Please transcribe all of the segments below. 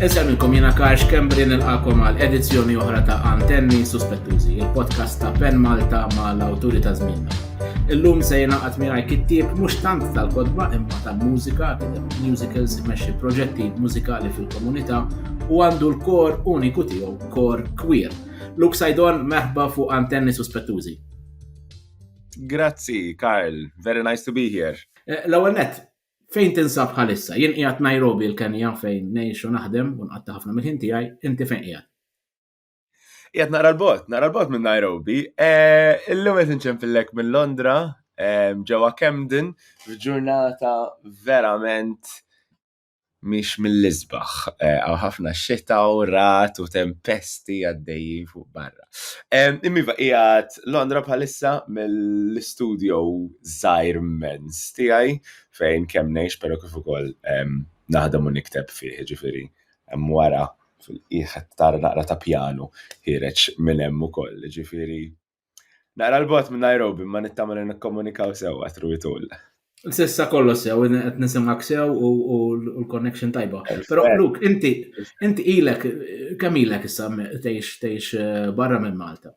Insemmilkom jena Karx Kembri nilqakom għal edizzjoni oħra ta' Antenni Suspettużi, il-podcast ta' Pen Malta ma' l-awturi ta' żmienna. Illum se jenaqat miegħi kittieb mhux tant tal-kodba imma tal-mużika, musicals imexxi proġetti mużikali fil-komunità u għandu l-kor uniku tiegħu, kor queer. Luke Sajdon meħba fuq Antenni Suspettużi. Grazzi, Karl. Very nice to be here. Eh, l-ewwel net, fejn tinsab bħalissa? Jien qiegħed Nairobi l-Kenja fejn ngħix u naħdem u nqatta' ħafna mill-ħin tiegħi, inti fejn qiegħed? Qiegħed nara l-bot, nara l-bot minn Nairobi. Eh, illum qed inċempillek minn Londra, eh, ġewwa Camden, f'ġurnata verament mhix mill-isbaħ. Hawn ħafna xita u ragħad u tempesti għaddejjin fuq barra. Imma iva qiegħed Londra bħalissa mill-istudio żgħir mmens tiegħi fejn kemm ngħix però kif ukoll naħdem u nikteb fih, jiġifieri hemm wara fil-qiegħ qed tara naqra ta' pjanu ħiereġ minn hemm ukoll, jiġifieri Naqra l-bot minn Nairobi ma nittama li nikkomunikaw sew għatru jitul. Sissa kollox sew, qed nisimgħek sew u l-connection tajba. Però Luk, inti inti ilek kemm ilek issa tgħix tgħix eh, barra minn Malta?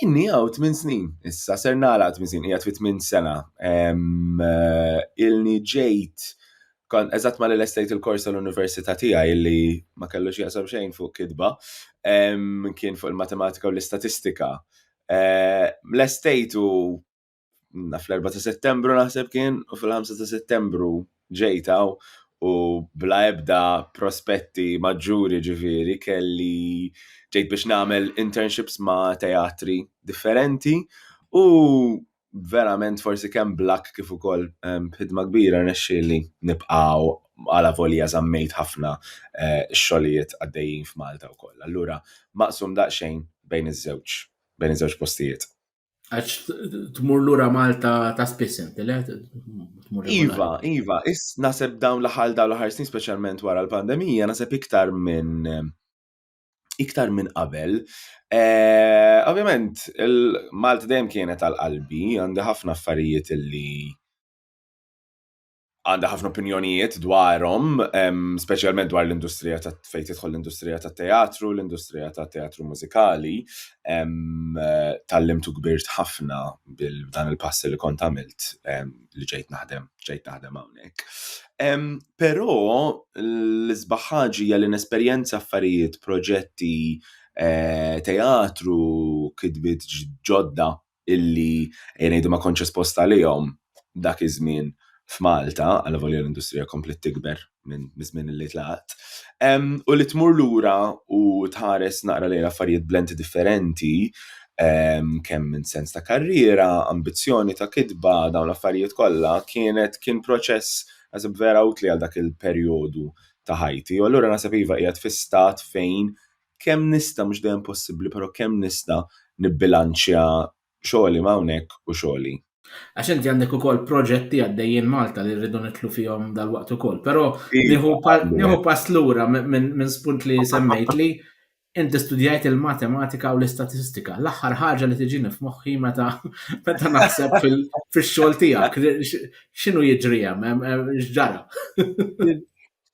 Inni għaw 8 snin, issa ser nagħlaq 8 snin, hija 8 sena. Eh, ilni ġejt Kon eżatt ma l-estate il-kors tal-università tiegħi li ma kellux jaqsam xejn fuq kidba, kien fuq il-matematika u l-istatistika. Eh, l-estate u naf l-4 ta' settembru naħseb kien u fil-5 ta' settembru ġejtaw u bla ebda prospetti maġġuri ġifiri kelli ġejt biex nagħmel internships ma' teatri differenti u verament forsi kemm blak kif ukoll ehm, b'ħidma kbira rnexxieli nibqgħu għala volja żammejt ħafna eh, xogħlijiet għaddejjin f'Malta wkoll. Allura maqsum daqsxejn bejn iż-żewġ bejn iż-żewġ postijiet. Għax tmur lura Malta ta' spiss inti, le? Iva, iva, is naseb dawn l-ħal dawn l-ħar snin speċjalment wara l-pandemija, naseb iktar minn iktar minn qabel. Eh, ovvjament, il-Malta dejjem kienet għal qalbi, għandi ħafna affarijiet li għandha ħafna opinjonijiet dwarhom, speċjalment dwar l-industrija ta' fejn tidħol l-industrija ta' teatru, l-industrija ta' teatru mużikali, tal-limtu kbirt ħafna bil-dan il-passi li kont għamilt li ġejt naħdem, ġejt naħdem hawnhekk. Però l-isbaħ ħaġa hija li nesperjenza affarijiet, proġetti, eh, teatru, kidbit ġodda illi jgħidu ma kontx esposta għalihom dak iż-żmien f'Malta, għal volja l-industrija komplet tikber minn żmien li tlaqt. U li tmur lura u tħares naqra lejn affarijiet blenti differenti, kemm minn sens ta' karriera, ambizzjoni ta' kitba, dawn l-affarijiet kollha, kienet kien proċess għazib vera utli għal dak il-perjodu ta' ħajti. U allura naħseb iva qiegħed fi stat fejn kemm nista' mhux dejjem possibbli, però kemm nista' nibbilanċja Xogħli m'hawnhekk u xogħli. Għax inti għandek ukoll proġetti għaddejjin Malta li rridu nidħlu fihom dalwaqt ukoll. Però nieħu pass lura minn spunt li semmejt li inti studjajt il-matematika u l-istatistika. L-aħħar ħaġa li tiġini f'moħħi meta meta naħseb fix-xogħol tiegħek. X'inhu jiġri hemm? X'ġara?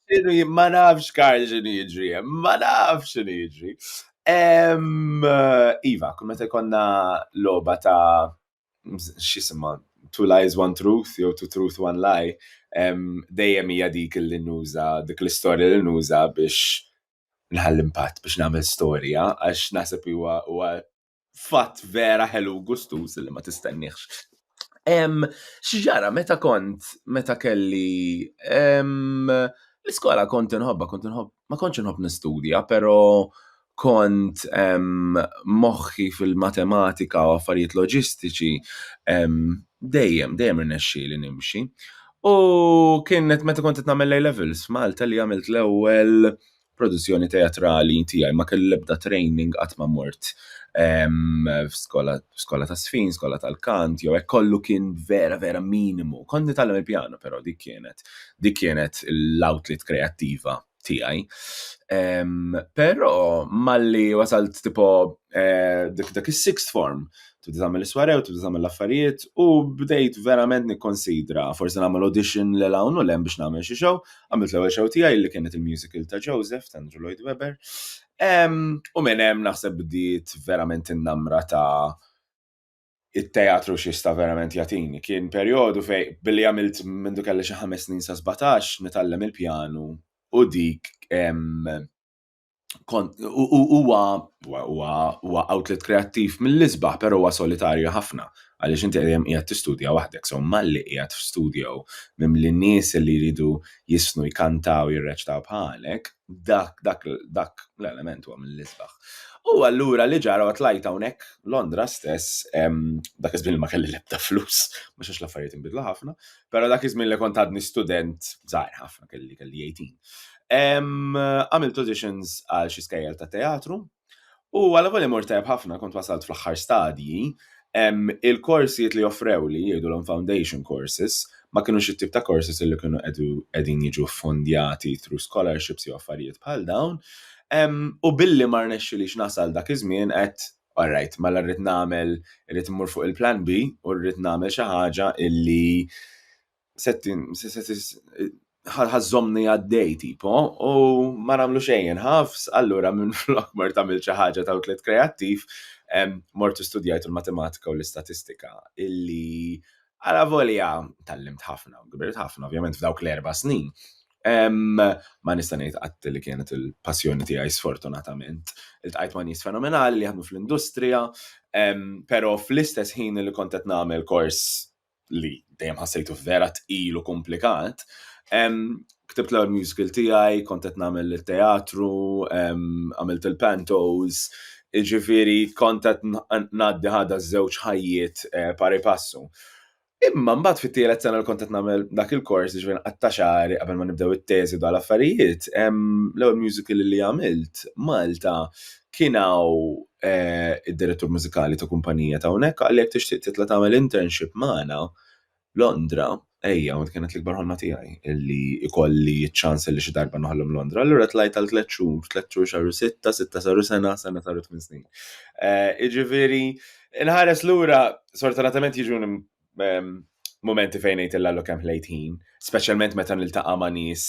Xinu jien ma nafx Karl xinu jiġri hemm, ma nafx xinu jiġri. Em, iva, kull meta jkollna logħba ta' x'jisimha Two Lies One Truth jew Two Truth One Lie, em, dejjem hija dik li nuża, dik l-istorja li nuża biex nħalli impatt, biex nagħmel storja għax naħseb huwa huwa fatt vera ħelu gustuż li ma tistenniex. Xġara, meta kont, meta kelli l-iskola kont inħobba, kont inħobb, ma kontx inħobb nistudja, pero kont moħħi fil-matematika u affarijiet loġistiċi dejjem, dejjem irnexxi li nimxi. U kienet meta kont qed nagħmel A-levels f'Malta li għamilt l-ewwel produzzjoni teatrali tiegħi ma kelli l-ebda training qatt ma mort ehm, f'skola skola ta' sfin, skola tal-kant, jew hekk kollu kien vera vera minimu. Kont nitgħallem il-pjano però dik kienet dik kienet l-outlet kreattiva tiegħi. Ehm, però malli wasalt tipo eh, dik dak is-sixth form tibda tagħmel iswarew, tibda tagħmel l-affarijiet u bdejt verament nikkonsidra forsi nagħmel audition l hawn u lem biex nagħmel xi show, għamilt l-ewwel show tiegħi li kienet il-musical ta' Joseph ta' Andrew Lloyd Webber. U minn hemm naħseb bdiet verament in-namra ta' it-teatru xista verament jatini. Kien perjodu fej billi għamilt minn du kelli xi ħames snin sa' 17 nitgħallem il-pjanu u dik huwa huwa outlet kreattiv mill-isbaħ, però huwa solitarju ħafna għaliex inti dejjem qiegħed tistudja waħdek, so malli qiegħed f'studio minn li nies li jridu jisnu jkantaw jirreċtaw bħalek, dak dak dak l-element huwa mill-isbaħ. U allura li ġara għat lajt hawnhekk Londra stess, dak iż-żmien ma kelli l-ebda flus, ma xax l-affarijiet inbidlu ħafna, Pero dak iż-żmien li kont għadni student żgħir ħafna kelli kelli 18. Għamilt auditions għal xi skejjel ta' teatru u għal volja mort tajb ħafna kont wasalt fl-aħħar stadji il-korsijiet li offrew li jgħidulhom foundation courses ma kienux it-tip ta' courses li kienu qegħdin jiġu ffundjati through scholarships jew affarijiet bħal dawn u billi ma rnexxilix nasal dak iż-żmien qed all right, mela rrid nagħmel, rrid immur fuq il-plan B u rrid nagħmel xi ħaġa illi ħażomni għaddej tipo u ma nagħmlu xejn ħafs, allura minn flok mort tagħmel xi ħaġa ta' tliet kreattiv, mort studjajt il-matematika u l-istatistika illi għala volja tgħallimt ħafna u kbirt ħafna ovvjament f'dawk l-erba' snin, Ma nista' ngħid qatt li kienet il-passjoni tiegħi sfortunatament. Iltqajt ma' nies fenomenali li jaħdmu fl-industrija, però fl-istess ħin li kont qed nagħmel kors li dejjem ħassejtu vera tqil u kumplikat, ktibt l-ewwel musical tiegħi, kont qed nagħmel it-teatru, għamilt il-pantos, jiġifieri kont qed ngħaddi ħadha ż-żewġ ħajjiet pari passu. Imma mbagħad fit-tielet sena li kont qed nagħmel dak il-kors ġifier nqatta' xagħri qabel ma nibdew it-teżi dwar l-affarijiet, l-ewwel musical li għamilt Malta kien hawn eh, id-direttur mużikali ta' kumpanija ta' hawnhekk qalli jekk tixtieq titla' tagħmel internship magħna Londra, ejja, u kienet l-ikbar ħolma tiegħi illi jkolli ċ-ċans illi xi darba noħlom Londra. Allura tlajt għal tliet xhur, tliet xhur xahar u sitta, sitta saru sena, sena saru tmien snin. Eh, jiġifieri Inħares lura, sortanatament jiġu momenti fejn ngħid il-lallu kemm ħlejt ħin, speċjalment meta niltaqa' ma' nies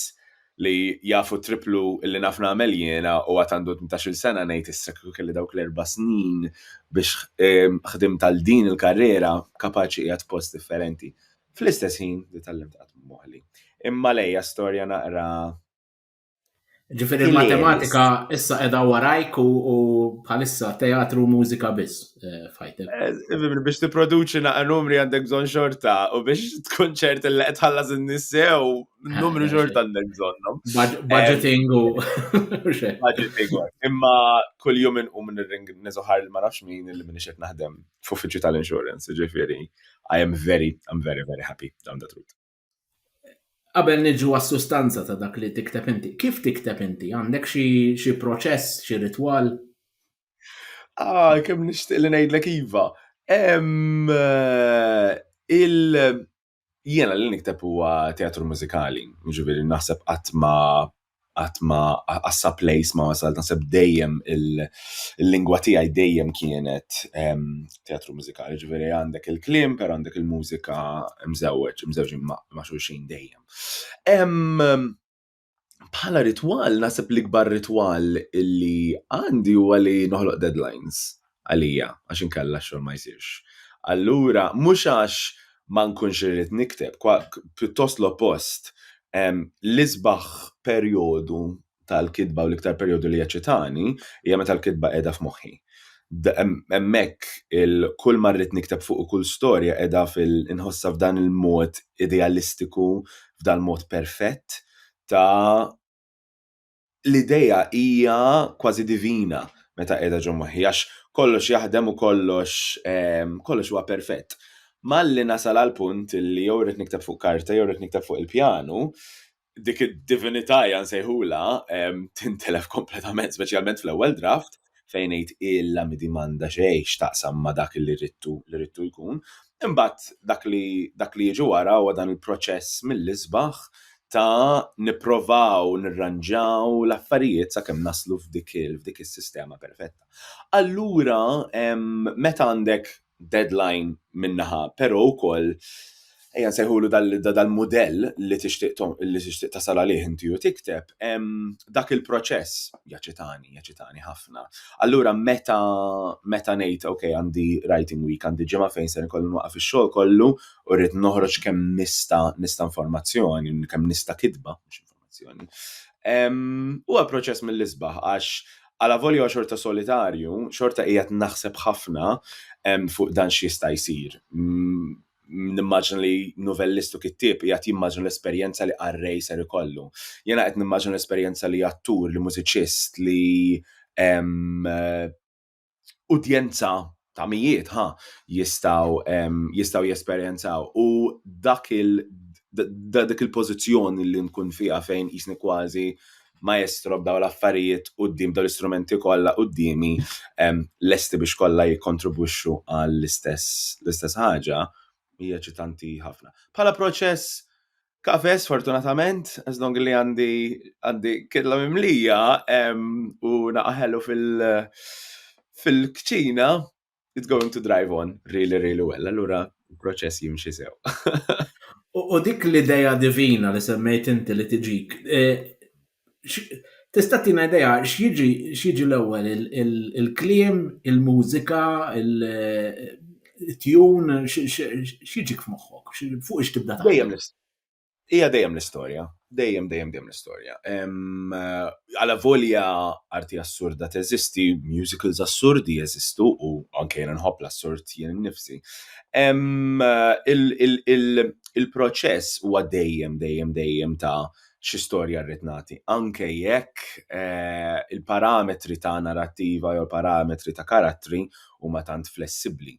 li jafu triplu li naf nagħmel jiena u għad għandu 18-il sena ngħid issa kieku kelli dawk l-erba' snin biex ehm, ħdimt għal din il-karriera kapaċi qiegħed post differenti. Fl-istess ħin li tallimt qatt moħli. Imma lejja storja naqra Ġifiri il-matematika issa edha warajk u bħalissa teatru u mużika biss eh, fajtek. Eh, biex t-produċi naqqa numri għandek zon xorta u biex tkun ċert li qed ħallas in-nissew numru eh, xorta għandek zonnhom. Budgeting u budgeting. Imma kull jum inqum nirring niżoħar li ma nafx min li minix qed naħdem f'uffiċċju tal-insurance, ġifieri I am very, I'm very, very happy down the truth. Qabel niġu għas-sustanza ta' dak li tikteb inti, kif tikteb inti? Għandek xi proċess, xi ritwal? Ah, kemm nixtieq li ngħidlek iva. Eh, il jiena li nikteb huwa teatru mużikali, jiġifieri naħseb qatt ma qatt ma għassa place ma wasal naħseb dejjem il-lingwa tiegħi dejjem kienet ehm, teatru mużikali, ġifieri għandek il-kliem per għandek il-mużika mżewweġ, mżewġin ma' xulxin dejjem. Ehm, bħala ritwal naħseb l-ikbar ritwal illi għandi huwa li noħloq deadlines għalija għax inkella x-xogħol ma jsirx. Allura mhux għax ma nkunx irrid nikteb, pjuttost l-oppost, l-isbaħ perjodu tal-kitba u l-iktar perjodu li jeċċitani hija meta l-kitba qiegħda f'moħħi. Hemmhekk kull ma rrid nikteb fuq kull storja qiegħda inħossha f'dan il-mod idealistiku, f'dal-mod perfett ta' l-idea hija kważi divina meta qiegħda ġo moħħi għax kollox jaħdem u kollox ehm, kollox huwa perfett. Malli nasal għal punt li jew rrid nikteb fuq karta jew rrid nikteb fuq il-pjanu, dik id-divinità jan sejħula ehm, tintelef kompletament, speċjalment fl-ewwel draft, fejn ngħid illa midi m'għandha xejn x'taqsam ma' dak li ridtu li ridtu jkun. Imbagħad dak li dak li jiġi wara huwa dan il-proċess mill-isbaħ ta' nipprovaw nirranġaw l-affarijiet sakemm naslu f'dik f'dik is-sistema perfetta. Allura meta għandek deadline minn naħa, però wkoll ejja nsejħulu dal-mudell li tixtieq li tixtieq tasal għalih inti u tikteb dak il-proċess jaċitani, jaċitani ħafna. Allura meta meta ngħid ok għandi writing week għandi ġimgħa fejn se nkollu nwaqaf ix-xogħol kollu u rrid noħroġ kemm nista' nista' informazzjoni, kemm nista' kitba, tal-informazzjoni. Huwa proċess mill-isbaħ għax għala volja xorta solitarju, xorta qiegħed naħseb ħafna fuq dan x'jista' jsir. Nimmaġna li novellistu kittieb qiegħed jimmaġna l-esperjenza li qarrej ser ikollu. Jiena qed nimmaġna l-esperjenza li attur, li mużiċist, li udjenza ta' mijiet ha jistaw jistaw jesperjenzaw u dak il dak il-pożizzjoni li nkun fiha fejn jisni kważi maestro b'daw l-affarijiet qudiem daw l-istrumenti kollha quddiemi lesti biex kollha jikkontribwixxu għall-istess l-istess ħaġa hija eċitanti ħafna. Bħala proċess Kafe, sfortunatament, as long li għandi għandi kidla mimlija u naqaħelu fil-kċina, it's going to drive on really, really well. Allura, proċess jimxi sew. U dik l-ideja divina li semmejt inti li tiġik, e, Tista' tina idea x'jiġi x'jiġi l-ewwel il-kliem, il-mużika, il-tjun, x'jiġi f'moħħok? Fuq ix tibda taħdem? Dejjem l-istess. Hija dejjem l-istorja. Dejjem, dejjem, dejjem l-istorja. Alavolja arti assurda teżisti, musicals assurdi jeżistu u anke jiena nħobb l-assurd jien innifsi. Il-proċess huwa dejjem, dejjem, dejjem ta' xi storja rrid nagħti. Anke jekk eh, il-parametri ta' narrattiva jew parametri ta' karattri huma tant flessibbli.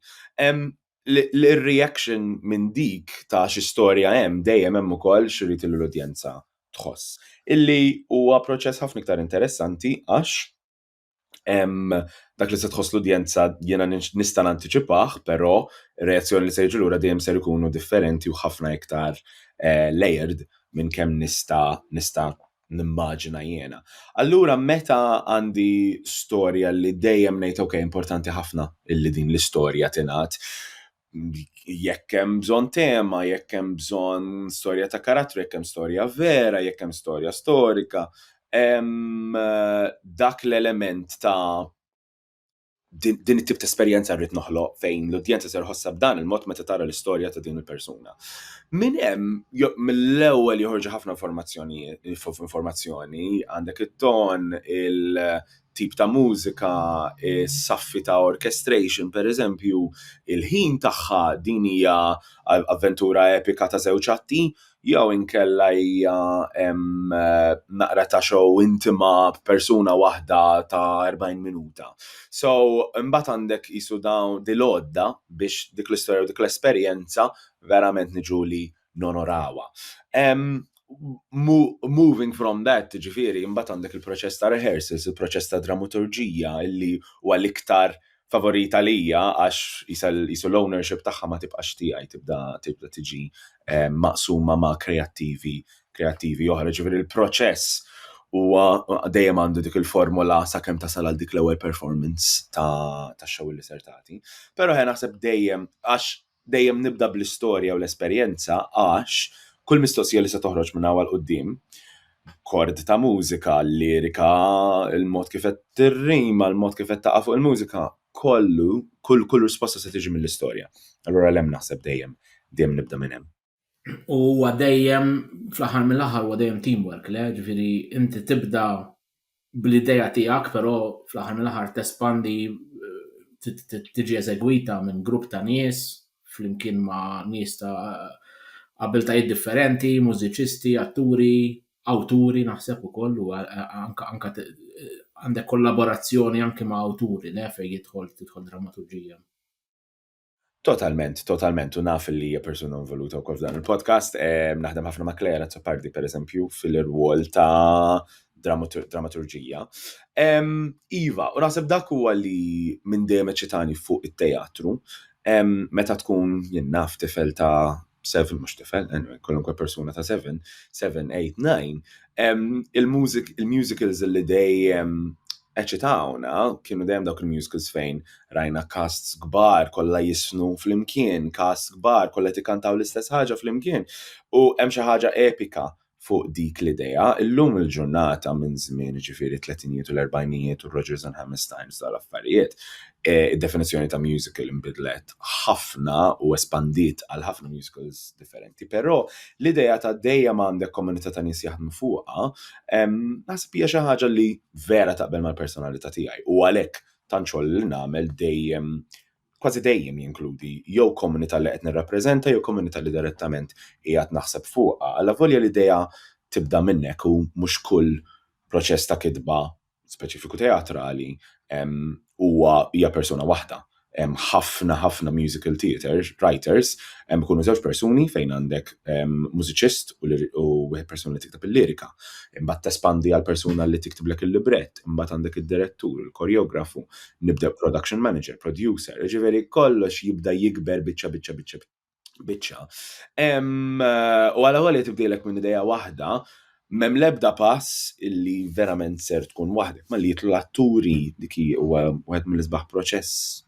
L-reaction minn dik ta' xi storja hemm dejjem hemm ukoll xirrid l-udjenza tħoss. Illi huwa proċess ħafna iktar interessanti għax dak li se tħoss l-udjenza jiena nista' nantiċipah, però reazzjoni li se jiġu lura dejjem ser ikunu differenti u ħafna iktar eh, layered minn kemm nista' nista' nimmaġina jiena. Allura meta għandi storja li dejjem ngħid ok importanti ħafna illi din l-istorja tingħad, jekk hemm bżonn tema, jekk hemm bżonn storja ta' karattru, jekk hemm storja vera, jekk hemm storja storika, hemm eh, dak l-element ta' din it-tip ta' esperjenza rrid noħloq fejn l-udjenza ser ħossha b'dan il-mod meta tara l-istorja ta' din il-persuna. Min hemm mill-ewwel joħorġu ħafna informazzjonijiet, informazzjoni, għandek it-ton, tip ta' mużika, is-saffi ta' orchestration, pereżempju, il-ħin tagħha, din hija avventura epika ta' żewġ atti, jew inkella hija naqra ta' show intima b'persuna waħda ta' erbgħin minuta. So, imbagħad għandek qisu dawn, dil-għodda biex dik l-istorja u dik l-esperjenza verament niġu li nonorawha. Moving from that, ġifieri, imbagħad għandek il-proċess ta' rehearsals, il-proċess ta' drammaturġija li huwa l-iktar favorit għalija għax qisu l-ownership tagħha ma tibqax tiegħi, tibda tibda tiġi maqsuma ma' kreattivi kreattivi oħra. Ġifieri l-proċess huwa dejjem għandu dik il-formola sakemm tasal għal dik l-ewwel performance ta' ta' show li ser tagħti. Però ħe naħseb dejjem għax Dejjem nibda bl-istorja u l-esperjenza għax kull mistoqsija li se toħroġ minn hawn 'l quddiem, kord ta' mużika, lirika, il-mod kif qed tirrima, il-mod kif qed taqa' fuq il-mużika, kollu, kull risposta se tiġi mill-istorja. Allura l-hemm naħseb dejjem, dejjem nibda minn hemm. U huwa dejjem, fl-aħħar mill-aħħar huwa dejjem teamwork, le? Ġifieri inti tibda bl-idea tiegħek, però fl-aħħar mill-aħħar tespandi tiġi eżegwita minn grupp ta' nies flimkien ma' nies ta' abiltajiet differenti, mużiċisti, atturi, awturi naħseb ukoll u anke għandek kollaborazzjoni anke ma' awturi, le, fejn jidħol tidħol drammaturġija. Totalment, totalment, u naf li hija persuna involuta wkoll f'dan il-podcast. Ehm, naħdem ħafna ma' Claire Azzopardi, per eżempju, fil-irwol ta' dramatur- dramaturġija. Ehm, iva, u naħseb dak huwa li minn dejjem eċitani fuq it-teatru, ehm, meta tkun jien naf tifel ta' seven mhux tifel, anyway, kwalunkwe persuna ta' seven, seven, eight, nine, il-musicals li dejjem eċitawna kienu dejjem dawk il-musicals fejn rajna casts kbar kollha jisnu flimkien, casts kbar kollha tikkantaw l-istess ħaġa flimkien. U hemm xi ħaġa epika fuq dik l-idea. Illum il-ġurnata minn żmien jiġifieri t-tletinijiet u l-erbgħinijiet u Rodgers and Hammerstein f'dawn l-affarijiet, eh, id-definizzjoni ta' musical inbidlet ħafna u espandiet għal ħafna musicals differenti. Però l-idea ta' dejjem għandek komunità ta' nies jaħdmu fuqha, ehm, naħseb hija xi ħaġa li vera taqbel mal-personalità tiegħi u għalhekk tant xogħol li nagħmel dejjem kważi dejjem jinkludi jew komunità li qed nirrappreżenta jew komunità li direttament qiegħed naħseb fuqha. Alla volja l-idea tibda minn hekk u mhux kull proċess ta' kitba, speċifiku teatrali, huwa hija persuna waħda. Hemm ħafna ħafna musical theatre writers ikunu żewġ persuni fejn għandek mużiċist u wieħed persuna li tikteb il-lirika. Imbagħad tespandi għal persuna li tiktiblek il-librett, imbagħad għandek id-direttur, il-koreografu, nibda production manager, producer, ġifieri kollox jibda jikber biċċa biċċa biċċa biċċa. U għala għalli tibdilek minn ideja waħda, mem lebda pass illi verament ser tkun waħdek, ma li jitlu l-atturi dik huwa wieħed mill-isbaħ proċess,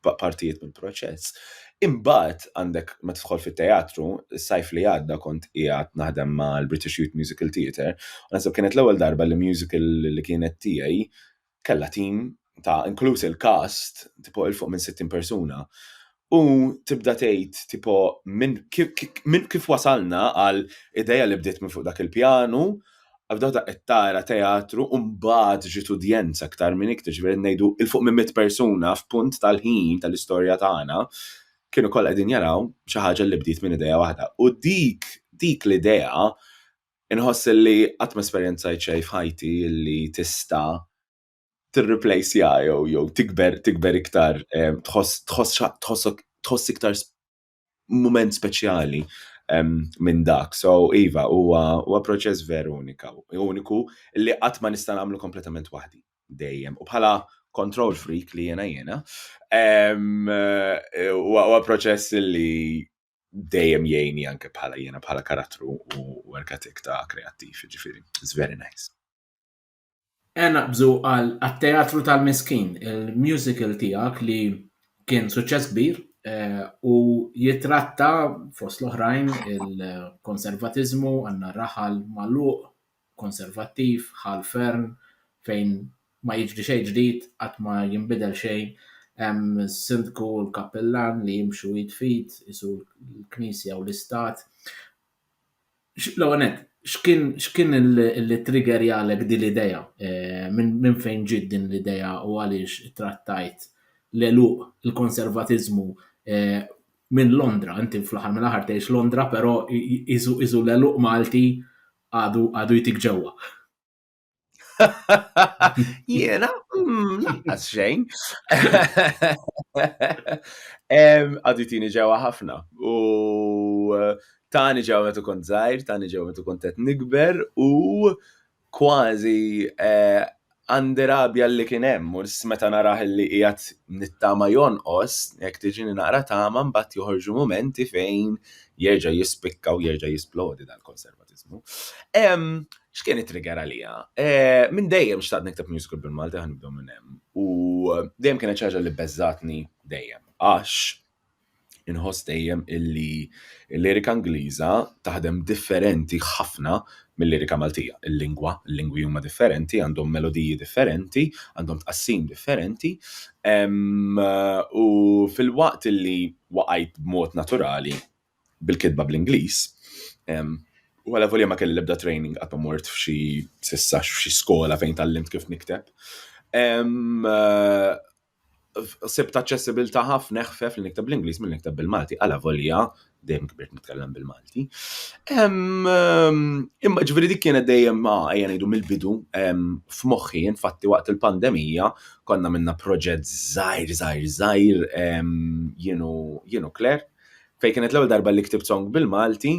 partijiet mill-proċess. Imbagħad għandek ma tidħol fit-teatru, sajf li għadda kont qiegħed naħdem mal-British Youth Musical Theatre, u naħseb kienet l-ewwel darba li musical li kienet tiegħi kellha tim ta' inkluż il-cast tipo il fuq minn 60 persuna u tibda tgħid tipo minn min kif wasalna għal ideja li bdiet minn fuq dak il-pjanu għabdaw ta' qed tara teatru u mbagħad ġiet udjenza aktar minn iktar ġifieri ngħidu il fuq minn mit persuna f'punt tal-ħin tal-istorja tagħna kienu kollha qegħdin jaraw xi ħaġa li bdiet minn ideja waħda u dik dik l-idea Inħoss illi qatt ma esperjenzajt xejn f'ħajti illi tista' tirriplejsja jew jew tikber tikber iktar tħoss tħoss tħossok tħoss iktar mument speċjali minn dak. So iva, huwa huwa proċess veru unika uniku li qatt ma nista' nagħmlu kompletament waħdi dejjem. U bħala control freak li jiena jiena huwa proċess li dejjem jgħini anke bħala jiena bħala karattru u work ethic ta' kreattiv, ġifiri, it's very nice. E naqbżu għal teatru tal-miskin, il-musical tijak li kien suċċess kbir eh, u jitratta fost l-oħrajn il-konservatizmu għanna raħal maluq Konservattiv, Ħal Fern, fejn ma jiġri xejn ġdid, qatt ma jinbidel xejn, hemm is-Sindku u l-Kappillan li jimxu id f'id, qisu l-Knisja u l-Istat. L-ewwel nett, x'kien x'kien li ttriggerjalek din l-idea? Minn fejn ġiet din l-idea u għaliex ittrattajt l-għeluq, il-konservatiżmu minn Londra? Inti fl-aħħar mill-aħħar tgħix Londra, però qisu qisu l-għeluq Malti għadu għadu jtik ġewwa. Jena, mm, laqqas xejn. Għadu jtini ġewwa ħafna. U eh, tani ġewwa metu kont zaħir, tani ġewwa metu kont qed nikber u kważi eh, għandi rabja li kien hemm, u meta narah li qiegħed nittama jonqos, jekk tiġini naqra tama mbagħad joħorġu mumenti fejn jerġa' jispikka u jerġa' jisplodi dal-konservatiżmu. X'kien it-trigger għalija? Eh, minn dejjem xtaqt nikteb musical bil-Malti ħa nibdew minn hemm. U dejjem kienet xi ħaġa li beżżatni dejjem. Għax Inħoss dejjem illi l-lirika Ingliża taħdem differenti ħafna mill-lirika Maltija. Il-lingwa, il-lingwi huma differenti, għandhom melodiji differenti, għandhom tqassim differenti. U filwaqt illi waqajt b'mod naturali bil-kitba bl-Ingliż, u alavolja ma kelli l-ebda training, qatt ma mort f'xi s'issa f'xi skola fejn tgħallimt kif nikteb, sibt aċċessibilità ħafna eħfef li nikteb bl-Ingliż milli nikteb bil-Malti, għala volja dejjem kibirt nitkellem bil-Malti. Imma ġifieri dik kienet dejjem ma ejja ngħidu mill-bidu f'moħħi, infatti waqt il-pandemija konna minna proġett żgħir żgħir żgħir jienu Claire fejn kienet l-ewwel darba li ktibt song bil-Malti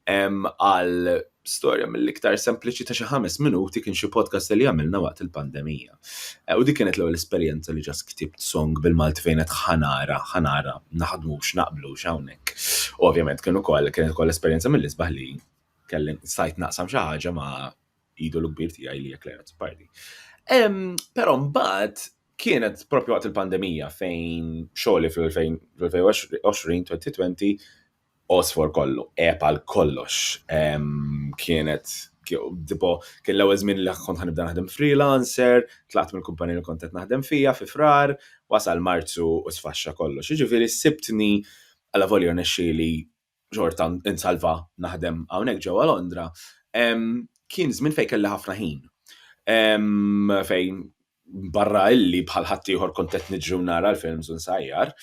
għal storja mill-iktar sempliċi ta' xi ħames minuti kien xi podcast li għamilna waqt il-pandemija. Eh, u dik kienet l-ewwel esperjenza li ġas ktibt song bil-Malti fejn qed ħanara, ħanara, naħdmux, naqblux hawnhekk. Ovvjament kien ukoll kienet ukoll esperjenza mill-isbaħ li kelli sajt naqsam xi ħaġa ma' idolu kbir tiegħi li jekk Leonard Pardi. Però mbagħad kienet propju waqt il-pandemija fejn xogħli fl-2020, 2020, osfor kollu, epa l-kollox. Kienet, tipo, kien l-ewwel żmien li kont ħanibda naħdem freelancer, tlaqt mill-kumpanija li kont qed naħdem fija fi frar, wasal Marzu u sfaxxa kollox. Jiġifieri sibtni għala volja nexxieli xorta insalva naħdem hawnhekk ġewwa Londra, kien żmien fejn kelli ħafna ħin. Fejn barra illi bħal ħaddieħor kont qed niġri u nara l-films u nsajjar,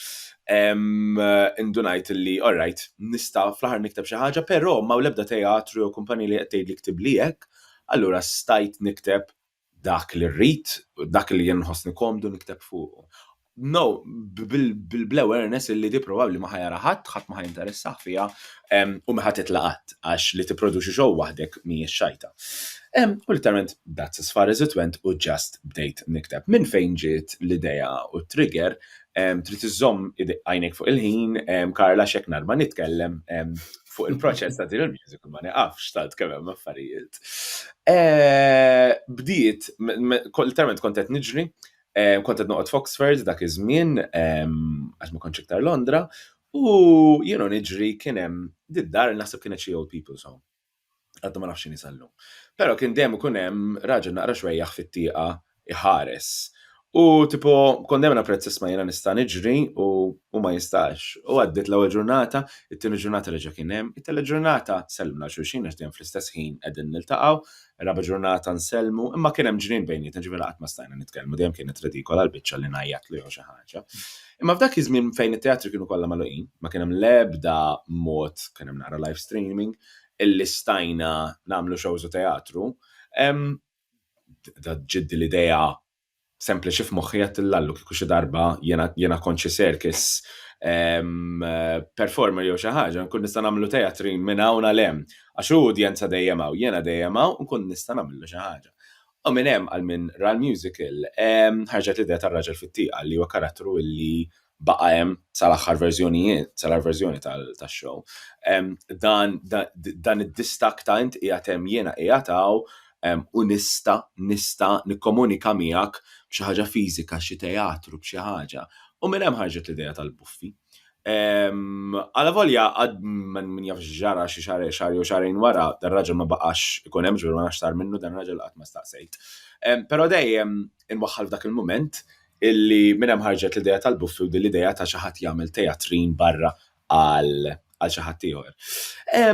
indunajt illi all right, nista' fl-aħħar nikteb xi ħaġa, però m'hawn l-ebda teatru jew kumpanija li qed tgħidli ktibli hekk, allura stajt nikteb Dak li rrid, dak li jien nħossni komdu nikteb fuqu. No, bl-awareness illi di probabbli ma ħajara ħadd, ħadd ma ħajinteressah fiha u ma ħatitla' qatt għax li tipproduċi show waħdek mhijiex xajta. U litteralment that's as far as it went u just bdejt nikteb. Minn fejn ġiet l-idea u t-trigger, trid iżżomm għajnejk fuq il-ħin, Karla għax jekk narba nitkellem fuq il-proċess ta' din il-musical ma neqafx tant kemm hemm affarijiet. Eh, bdiet, literalment kont qed niġri, eh, kont qed noqgħod Foxford dak iż-żmien ehm, għax ma kontx iktar Londra, u jienu niġri kien hemm did-dar naħseb kienet xi old people's home. Għaddu ma nafx x'inhi sal-lum. Però kien dejjem ikun hemm raġel naqra xwejjaħ fit-tieqa jħares. U tipo kont dejjem napprezza isma' jiena nista' niġri u hu ma jistax. U għaddiet l-ewwel ġurnata, it-tieni ġurnata reġa' kien hemm, it-tielet ġurnata sellimna lil xulxin għax dejjem fl-istess ħin qegħdin niltaqgħu, ir-raba' ġurnata nsellmu, imma kien hemm ġnien bejnietna ġifieri qatt ma stajna nitkellmu, dejjem kienet redikola l-biċċa li ngħajjatlu jew xi ħaġa. Imma f'dak iż-żmien fejn it-teatri kienu kollha magħluqin, ma kien hemm l-ebda mod, kien hemm naqra live streaming, illi stajna nagħmlu shows u teatru, bdiet ġiddi l-idea sempliċi f'moħħi għedtilha Allu kieku xi darba jiena kont xi circus performer jew xi ħaġa nkun nista' nagħmillu teatrin minn hawn għal hemm għax hu udjenza dejjem hawn jiena dejjem hawn nkun nista' nagħmillu xi ħaġa. U minn hemm għal min ra l-musical ħarġet l-idea tar-Raġel fit-Tieqa li huwa karattru illi baqa' hemm sal-aħħar verżjonijiet, sal-aħħar verżjoni tax-show. Dan dan id-distakk ta' int qiegħed hemm jiena qiegħed hawn u nista' nista' nikkomunika miegħek b'xi ħaġa fiżika, xi teatru, b'xi ħaġa. U minn hemm ħarġet l-idea tal-buffi. Għala volja għad min jaf ġara xi xar xar jew xarejn wara, dan raġel ma baqax ikun hemm ġifier ma nafx sar minnu dan raġel qatt ma staqsejt. Però dejjem inwaħħal f'dak il-mument illi minn hemm ħarġet l-idea tal-buffi u din l-idea ta' xi ħadd jagħmel tejatrin barra għal għal xi ħadd ieħor.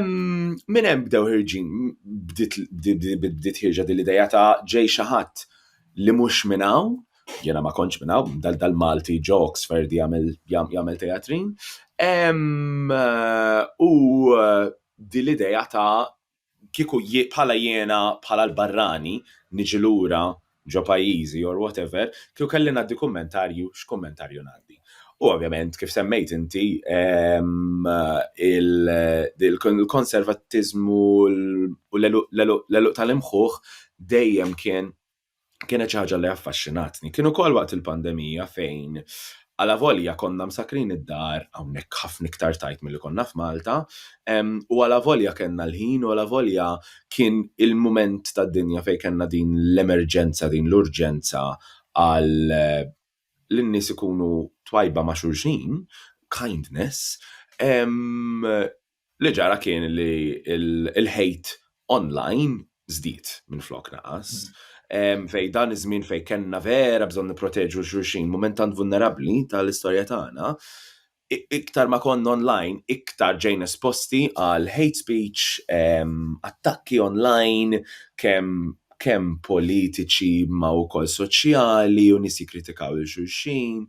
Minn hemm bdew ħirġin bdiet ħirġa din l-idea ta' ġej xi ħadd li mhux minn hawn, jiena ma kontx minn hawn, dal-Malti ġo Oxford jagħmel tejatrin. U din l-idea ta' kieku bħala jiena bħala l-barrani niġi lura ġo pajjiżi or whatever, kieku kelli ngħaddi kummentarju x'kummentarju ngħaddi. U ovvjament kif semmejt inti il-konservattiżmu u l-għeluq tal-imħuħ dejjem kien kienet xi ħaġa li affaxxinatni. Kien ukoll waqt il-pandemija fejn għala volja konna msakrin id-dar hawnhekk ħafna iktar tajt milli konna f'Malta, u għala volja kellna l-ħin u għala volja kien il-mument tad-dinja fejn kellna din l-emerġenza, din l-urġenza għal li n-nies ikunu twajba ma' xulxin, kindness, Li ġara kien li l-hate online żdied minflok naqas. Fejn dan iż-żmien fejn kellna vera bżonn nipproteġu xulxin, mument tant vulnerabbli tal-istorja tagħna, iktar ma konna online, iktar ġejna esposti għal hate speech, attakki online, kemm kemm politiċi imma wkoll soċjali u nies jikkritikaw lil xulxin.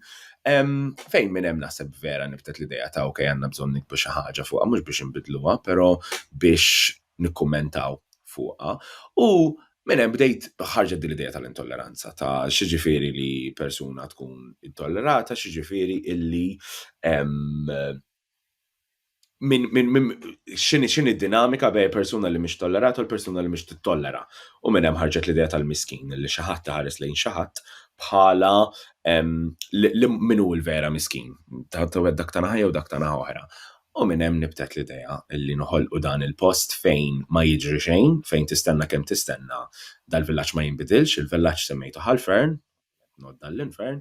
Fejn minn hemm naħseb vera nibtet l-idea ta' ok għandna bżonn nikbu xi ħaġa fuqha mhux biex inbidluha, però biex nikkummentaw fuqha. U minn hemm bdejt ħarġet din l-idea tal-intolleranza, ta' x'jiġifieri li persuna tkun intollerata, x'jiġifieri illi min, min, min, xini, xini dinamika bej persuna li mhix tollerat u l-persuna li mhix tittollera. U minn hemm ħarġet l-idea tal-miskin li xi ħadd iħares lejn xi ħadd bħala min hu l-vera miskin, ta' dak ta' naħa jew dak ta' naħa oħra. U minn hemm nibtet l-idea li noħolqu dan il-post fejn ma jiġri xejn, fejn tistenna kemm tistenna dal-villaġġ ma jinbidilx, il-villaġġ semmejtu ħalfern, nodda l-infern,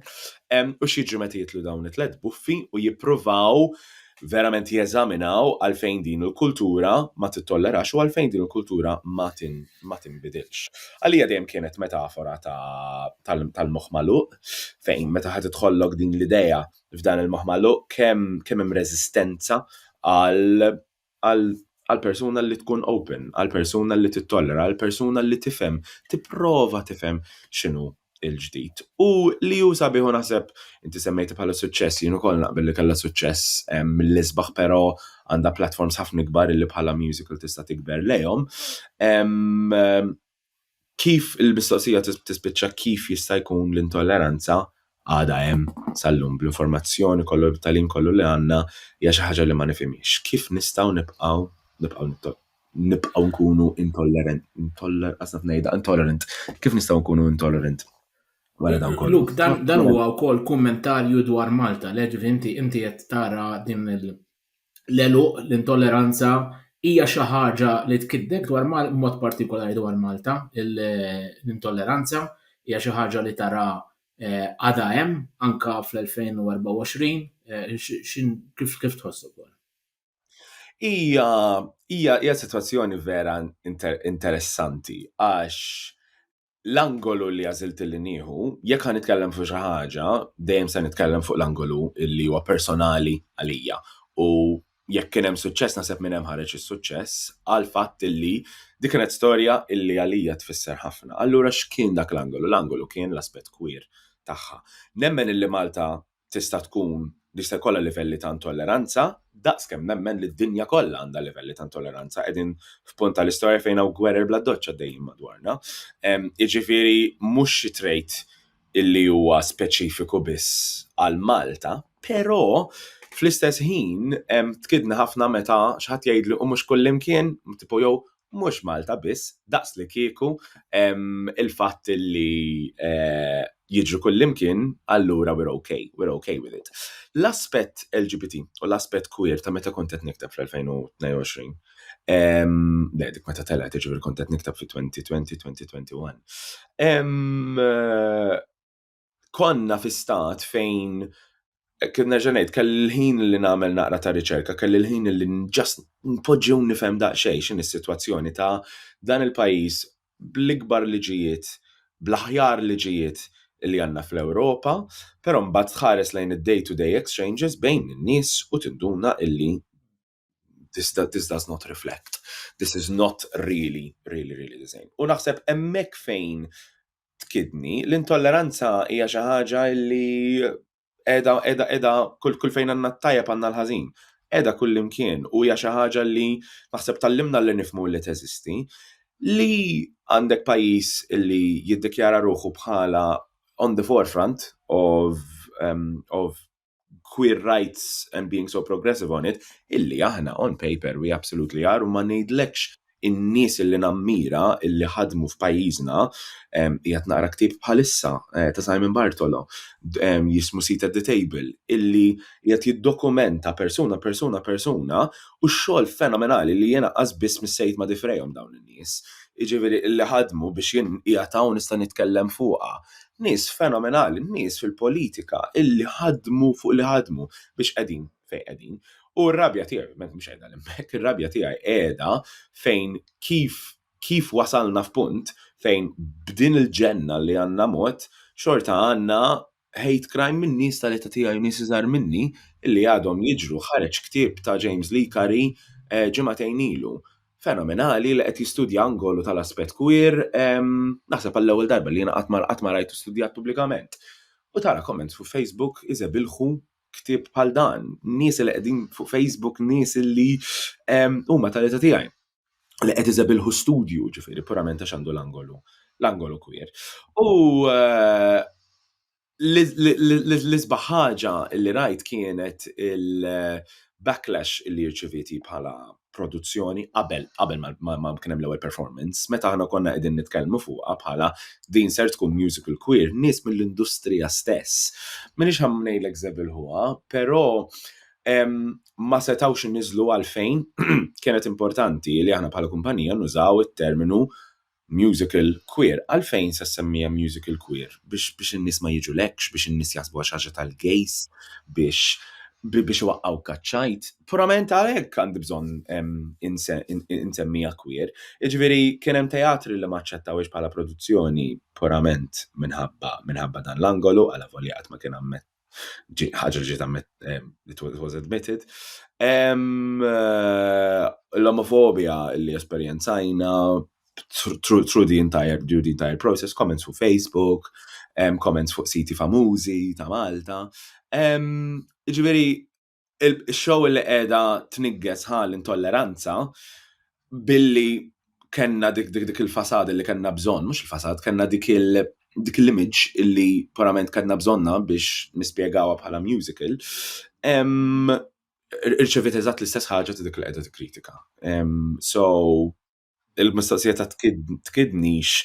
u x'jiġri meta jitlu dawn it-tliet buffi u jippruvaw verament jeżaminaw għalfejn din il-kultura ma tittollerax u għalfejn din il-kultura ma tinbidilx. Għalija dejjem kienet metafora tal-moħħ magħluq fejn meta ħadd idħollok din l-idea f'dan il-moħħ magħluq kemm kemm hemm reżistenza għal għall-persuna li tkun open, għall-persuna li tittollera, għall-persuna li tifhem, tipprova tifhem x'inhu l-ġdid. U li hu sabiħ u naħseb inti semmejti bħala suċċess, jien ukoll naqbel li kellha suċċess mill-isbaħ però għandha platforms ħafna ikbar li bħala musical tista' tikber lejhom. kif il-mistoqsija tispiċċa kif jista' jkun l-intolleranza għadha hemm sal-lum bl-informazzjoni kollu bit-tagħlim kollu li għandna hija xi ħaġa li ma nifhimhiex. Kif nistgħu nibqgħu nibqgħu nibqgħu nkunu intollerant, intoller qas naf ngħidha, intolerant. Kif nistgħu nkunu intolerant? Wara dan kollu. Luk, dan huwa wkoll kummentarju dwar Malta, le ġifi inti inti qed tara din il- l-għeluq, l-intolleranza hija xi ħaġa li tkiddek dwar mod partikolari dwar Malta, l-intolleranza hija xi ħaġa li tara eh, għadha hemm anke fl-2024, eh, kif tħoss ukoll? Hija hija hija sitwazzjoni vera interessanti għax l-angolu li għażilt li nieħu, jekk ħa nitkellem fuq xi ħaġa, dejjem se nitkellem fuq l-angolu li huwa personali għalija. U jekk kien hemm suċċess naħseb minn hemm ħareġ is-suċċess għal fatt illi dik kienet storja illi għalija tfisser ħafna. Allura x'kien dak l-angolu? L-angolu kien l-aspett kwir tagħha. Nemmen illi Malta tista' tkun jista' jkollha livelli ta' intolleranza, daqs kemm nemmen li d-dinja kollha għandha livelli ta' intolleranza. Qegħdin f'punt tal-istorja fejn hawn gwerer bla doċċ għaddejjin madwarna. Jiġifieri mhux xi trait illi huwa speċifiku biss għal Malta, però fl-istess ħin tkidni ħafna meta xi ħadd jgħidli u mhux kullimkien, tipo jew mhux Malta biss, daqslikieku il-fatt li eh, jiġri kullimkien, allura we're okay, we're okay with it. L-aspett LGBT u l-aspett queer ta' meta kont qed nikteb fl-2022, le dik meta telgħet jiġifieri kont qed nikteb fi 2020-2021, eh, konna fi stat fejn eh, kien nerġa' ngħid kelli l-ħin li nagħmel naqra ta' riċerka, kelli l-ħin li ġast npoġġew nifhem daqsxejn x'in is-sitwazzjoni ta' dan il-pajjiż bl-ikbar liġijiet, bl-aħjar liġijiet li għandna fl-Ewropa, però mbagħad tħares lejn id-day-to-day exchanges bejn in-nies u tinduna illi this, this does not reflect, this is not really, really, really the same. U naħseb emmek fejn tkidni, l-intolleranza hija xi ħaġa li edha, edha, edha, kull, kull fejn għanna t-tajja għanna l-ħazin. Edha kull imkien u hija xi ħaġa li naħseb tal-limna li nifmu li teżisti li għandek pajis li jiddikjara ruħu bħala on the forefront of, um, of queer rights and being so progressive on it, illi aħna on paper we absolutely are u ma ngħidlekx in-nies illi nammira illi ħadmu f'pajjiżna qiegħed naqra ktib bħalissa eh, ta' Simon Bartolo jismu Seat at the Table illi qiegħed jiddokumenta persuna persuna persuna u x-xogħol fenomenali li jiena qas biss missejt ma' difrejhom dawn nies, jiġifieri li ħadmu biex jien qiegħed hawn nista' nitkellem fuqha. Nies fenomenali, nies fil-politika illi ħadmu fuq li ħadmu biex qegħdin fejn qegħdin. U r-rabja tiegħi ovvjament mhux qiegħda hemmhekk, ir-rabja tiegħi qiegħda fejn kif kif wasalna f'punt fejn b'din il-ġenna li għandna mod xorta għandna hate crime minn nies tal-età tiegħi u nies iżgħar minni li għadhom jiġru. Ħareġ ktieb ta' James Licari ġimagħtejn ilu. Fenomenali li qed jistudja angolu tal-aspett queer, naħseb għall-ewwel darba li jiena qatt ma qatt ma rajtu studjat pubblikament. U tara comments fuq Facebook iżebilħu ktieb bħal dan. Nies li qegħdin fuq Facebook nies li huma tal-età tiegħi. li qed iżebilħu studju, ġifieri purament għax għandu l-angolu, l-angolu kwir. U eh, l-isbaħ ħaġa li rajt kienet il-backlash li rċiviti bħala produzzjoni qabel qabel ma kien hemm l-ewwel performance, meta aħna konna qegħdin nitkellmu fuqha bħala din ser tkun musical queer, nies mill-industrija stess. Minix ħamnejlek żebilħuha, però ma setgħux iniżżlu għalfejn kienet importanti li aħna bħala kumpanija nużaw it-terminu musical queer. Għalfejn se semmija musical queer? Biex biex in-nies ma jiġu lekx, biex in-nies jaħsbuha xi ħaġa tal-gays, biex biex iwaqqgħu kaċċajt. Purament għalhekk għandi bżonn insemmija queer. Jiġifieri kien hemm teatri li ma aċċettawhiex bħala produzzjoni purament minħabba minħabba dan l-angolu għala volja qatt ma kien ammett ħaġa li ġiet it was admitted. Eh, l-omofobia li esperjenzajna through the entire, through the entire process, comments fuq Facebook, comments fuq siti famużi ta' Malta. Ġifieri, il-show li qiegħda tnigges ħal intolleranza billi kenna dik dik dik il-fasad li kenna bżonn, mhux il-fasad, kenna dik il- dik l-image illi parament kellna bżonna biex nispjegawa bħala musical, irċevit eżatt l-istess ħaġa ta' dik li qiegħda tikkritika. So, Il-mistoqsija ta' tkidnix,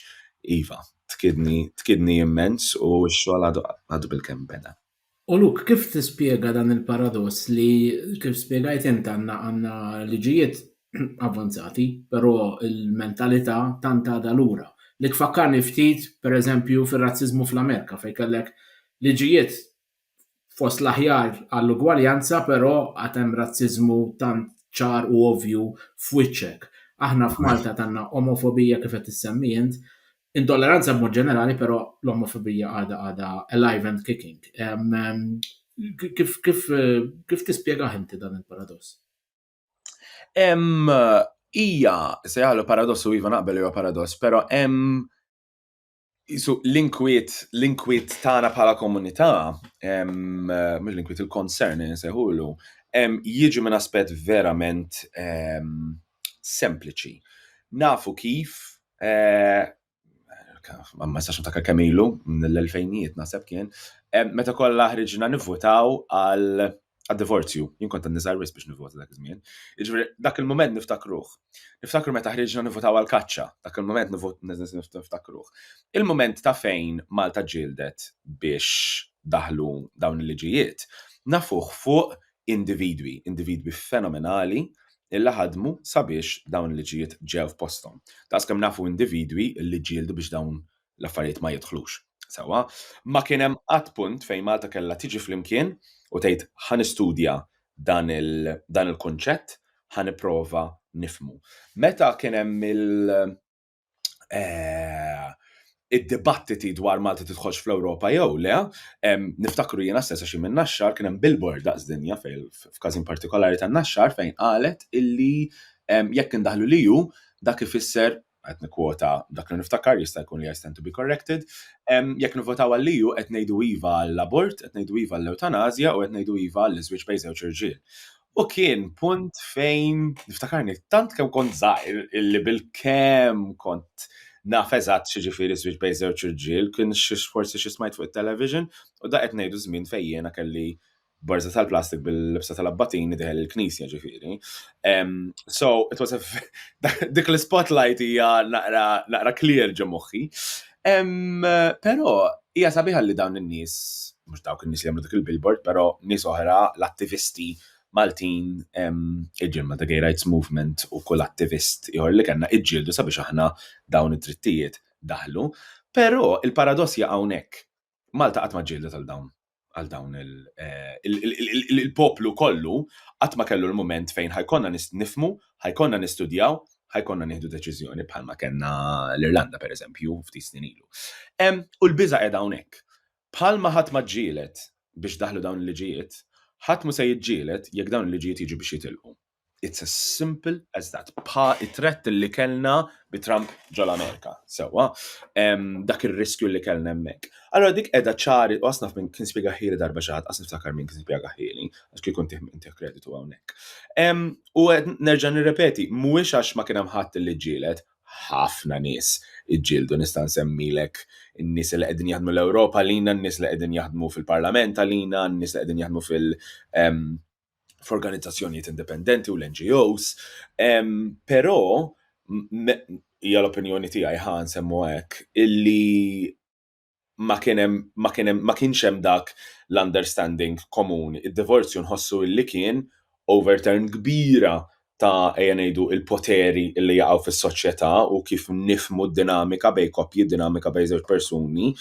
iva, tkidni, tkidni immens u x-xogħol għadu bil-kemm beda. U Luke, kif tispjega dan il-paradoss li kif spjegajt int għandna għandna liġijiet avvanzati, però l-mentalità tant għadha lura, li tfakkarni ftit, pereżempju, fir-razziżmu fl-Amerika fejn kellek liġijiet fost l-aħjar għall-ugwaljanza però għad hemm razziżmu tant ċar u ovvju f'wiċċek. Aħna f'Malta għandna omofobija kif qed issemmi int, intolleranza b'mod ġenerali però l-omofobija għadha għadha alive and kicking. Kif kif kif tispjegah inti dan il-paradoss? Hemm hija se jagħlu paradoss u iva naqbel huwa paradoss, però hemm Isu l-inkwiet, l-inkwiet tagħna bħala komunità, mhux l-inkwiet il-concern insejħulu, jiġi minn aspett verament sempliċi. Nafu kif eh, ma nistax niftakar kemm ilu, mill-elfejnijiet naħseb kien, meta kollha ħriġna nivvutaw għal għad-divorzju, jien kont għadni żgħir wisq biex nivvota dak iż-żmien. Jiġifieri dak il-mument niftakruh. Niftakru meta ħriġna nivvotaw għall-kaċċa, dak il-mument niftakruh. Il-mument ta' fejn Malta ġġieldet biex daħlu dawn il-liġijiet, nafuh fuq individwi, individwi fenomenali illi ħadmu sabiex dawn il-liġijiet ġew f'posthom. Daqskemm nafu individwi illi ġġieldu biex dawn l-affarijiet ma jidħlux sewwa. Ma kien hemm qatt punt fejn Malta kellha tiġi flimkien u tgħid ħa nistudja dan il-kunċett, ħa nipprova nifhmu. Meta kien hemm id-dibattiti dwar Malta tidħolx fl-Ewropa jew le, niftakru jiena stess għax jien minn Naxxar kien hemm billboard daqs dinja f'każin partikolari ta' Naxxar fejn qalet illi jekk indaħħlu l-EU dak ifisser qed nikkwota dak li niftakar jista' jkun li I stand to be corrected, jekk nivvotaw għal-EU qed ngħidu iva għall-abort, qed ngħidu iva għall-ewtanasja u qed ngħidu iva għall-iżwieġ bejn żewġ irġiel. U kien punt fejn niftakarni tant kemm kont żgħir illi bil-kemm kont naf eżatt x'ġifieri żwieġ bejn żewġ irġiel, kien forsi xi smajt fuq it-television u da qed ngħidu żmien fejn jiena kelli b'barza tal-plastik bil-libsa tal-abbatin idħel il-knisja ġifieri. So, it was a dik l-spotlight hija naqra clear ġo moħħi. Però hija sabiħa li dawn in-nies, mhux dawk in-nies li jagħmlu dik il-billboard, però nies oħra, l-attivisti Maltin, iġiel Malta Gay Rights Movement u kull attivist ieħor li kellna iġġieldu sabiex aħna dawn id-drittijiet daħlu. Però il-paradossja hawnhekk Malta qatt ma ġġieldet għal dawn għal dawn il-poplu kollu qatt ma kellu l-mument fejn ħajkonna nifmu, ħajkonna nistudjaw, ħajkonna nieħdu deċiżjoni bħalma kellna l-Irlanda pereżempju ftit snin ilu. U l-biża' qiegħda hawnhekk. Bħalma ħadd ma ġġieled biex daħlu dawn il-liġijiet, ħadd mhu se jiġġieled jekk dawn il-liġijiet jiġu biex jitilqu. It's as simple as that. Bħa it-tret li kellna bi Trump ġol Amerika, sewa, dak ir-riskju li kellna hemmhekk. Allora dik qiegħda ċari u asnaf minn kien spjega ħili darba xi ħadd, asnaf takar minn kien spjega ħili, għax kien kont inti kreditu hawnhekk. U nerġa' nirrepeti, mhuwiex għax ma kien hemm ħadd li ġġieled, ħafna nies iġġieldu nista' nsemmilek in-nies li qegħdin jaħdmu l-Ewropa lina, n-nies li qegħdin jaħdmu fil-Parlament għalina, n-nies li qegħdin jaħdmu fil- f'organizzazzjonijiet indipendenti u l-NGOs, però hija l-opinjoni tiegħi ħa nsemmu hekk illi ma kien hemm ma kien hemm ma kienx hemm dak l-understanding komuni. Id-divorzju nħossu illi kien overturn kbira ta' ejja ngħidu il-poteri li jaqgħu fis-soċjetà u kif nifmu d-dinamika bej koppji, d-dinamika bej żewġ persuni,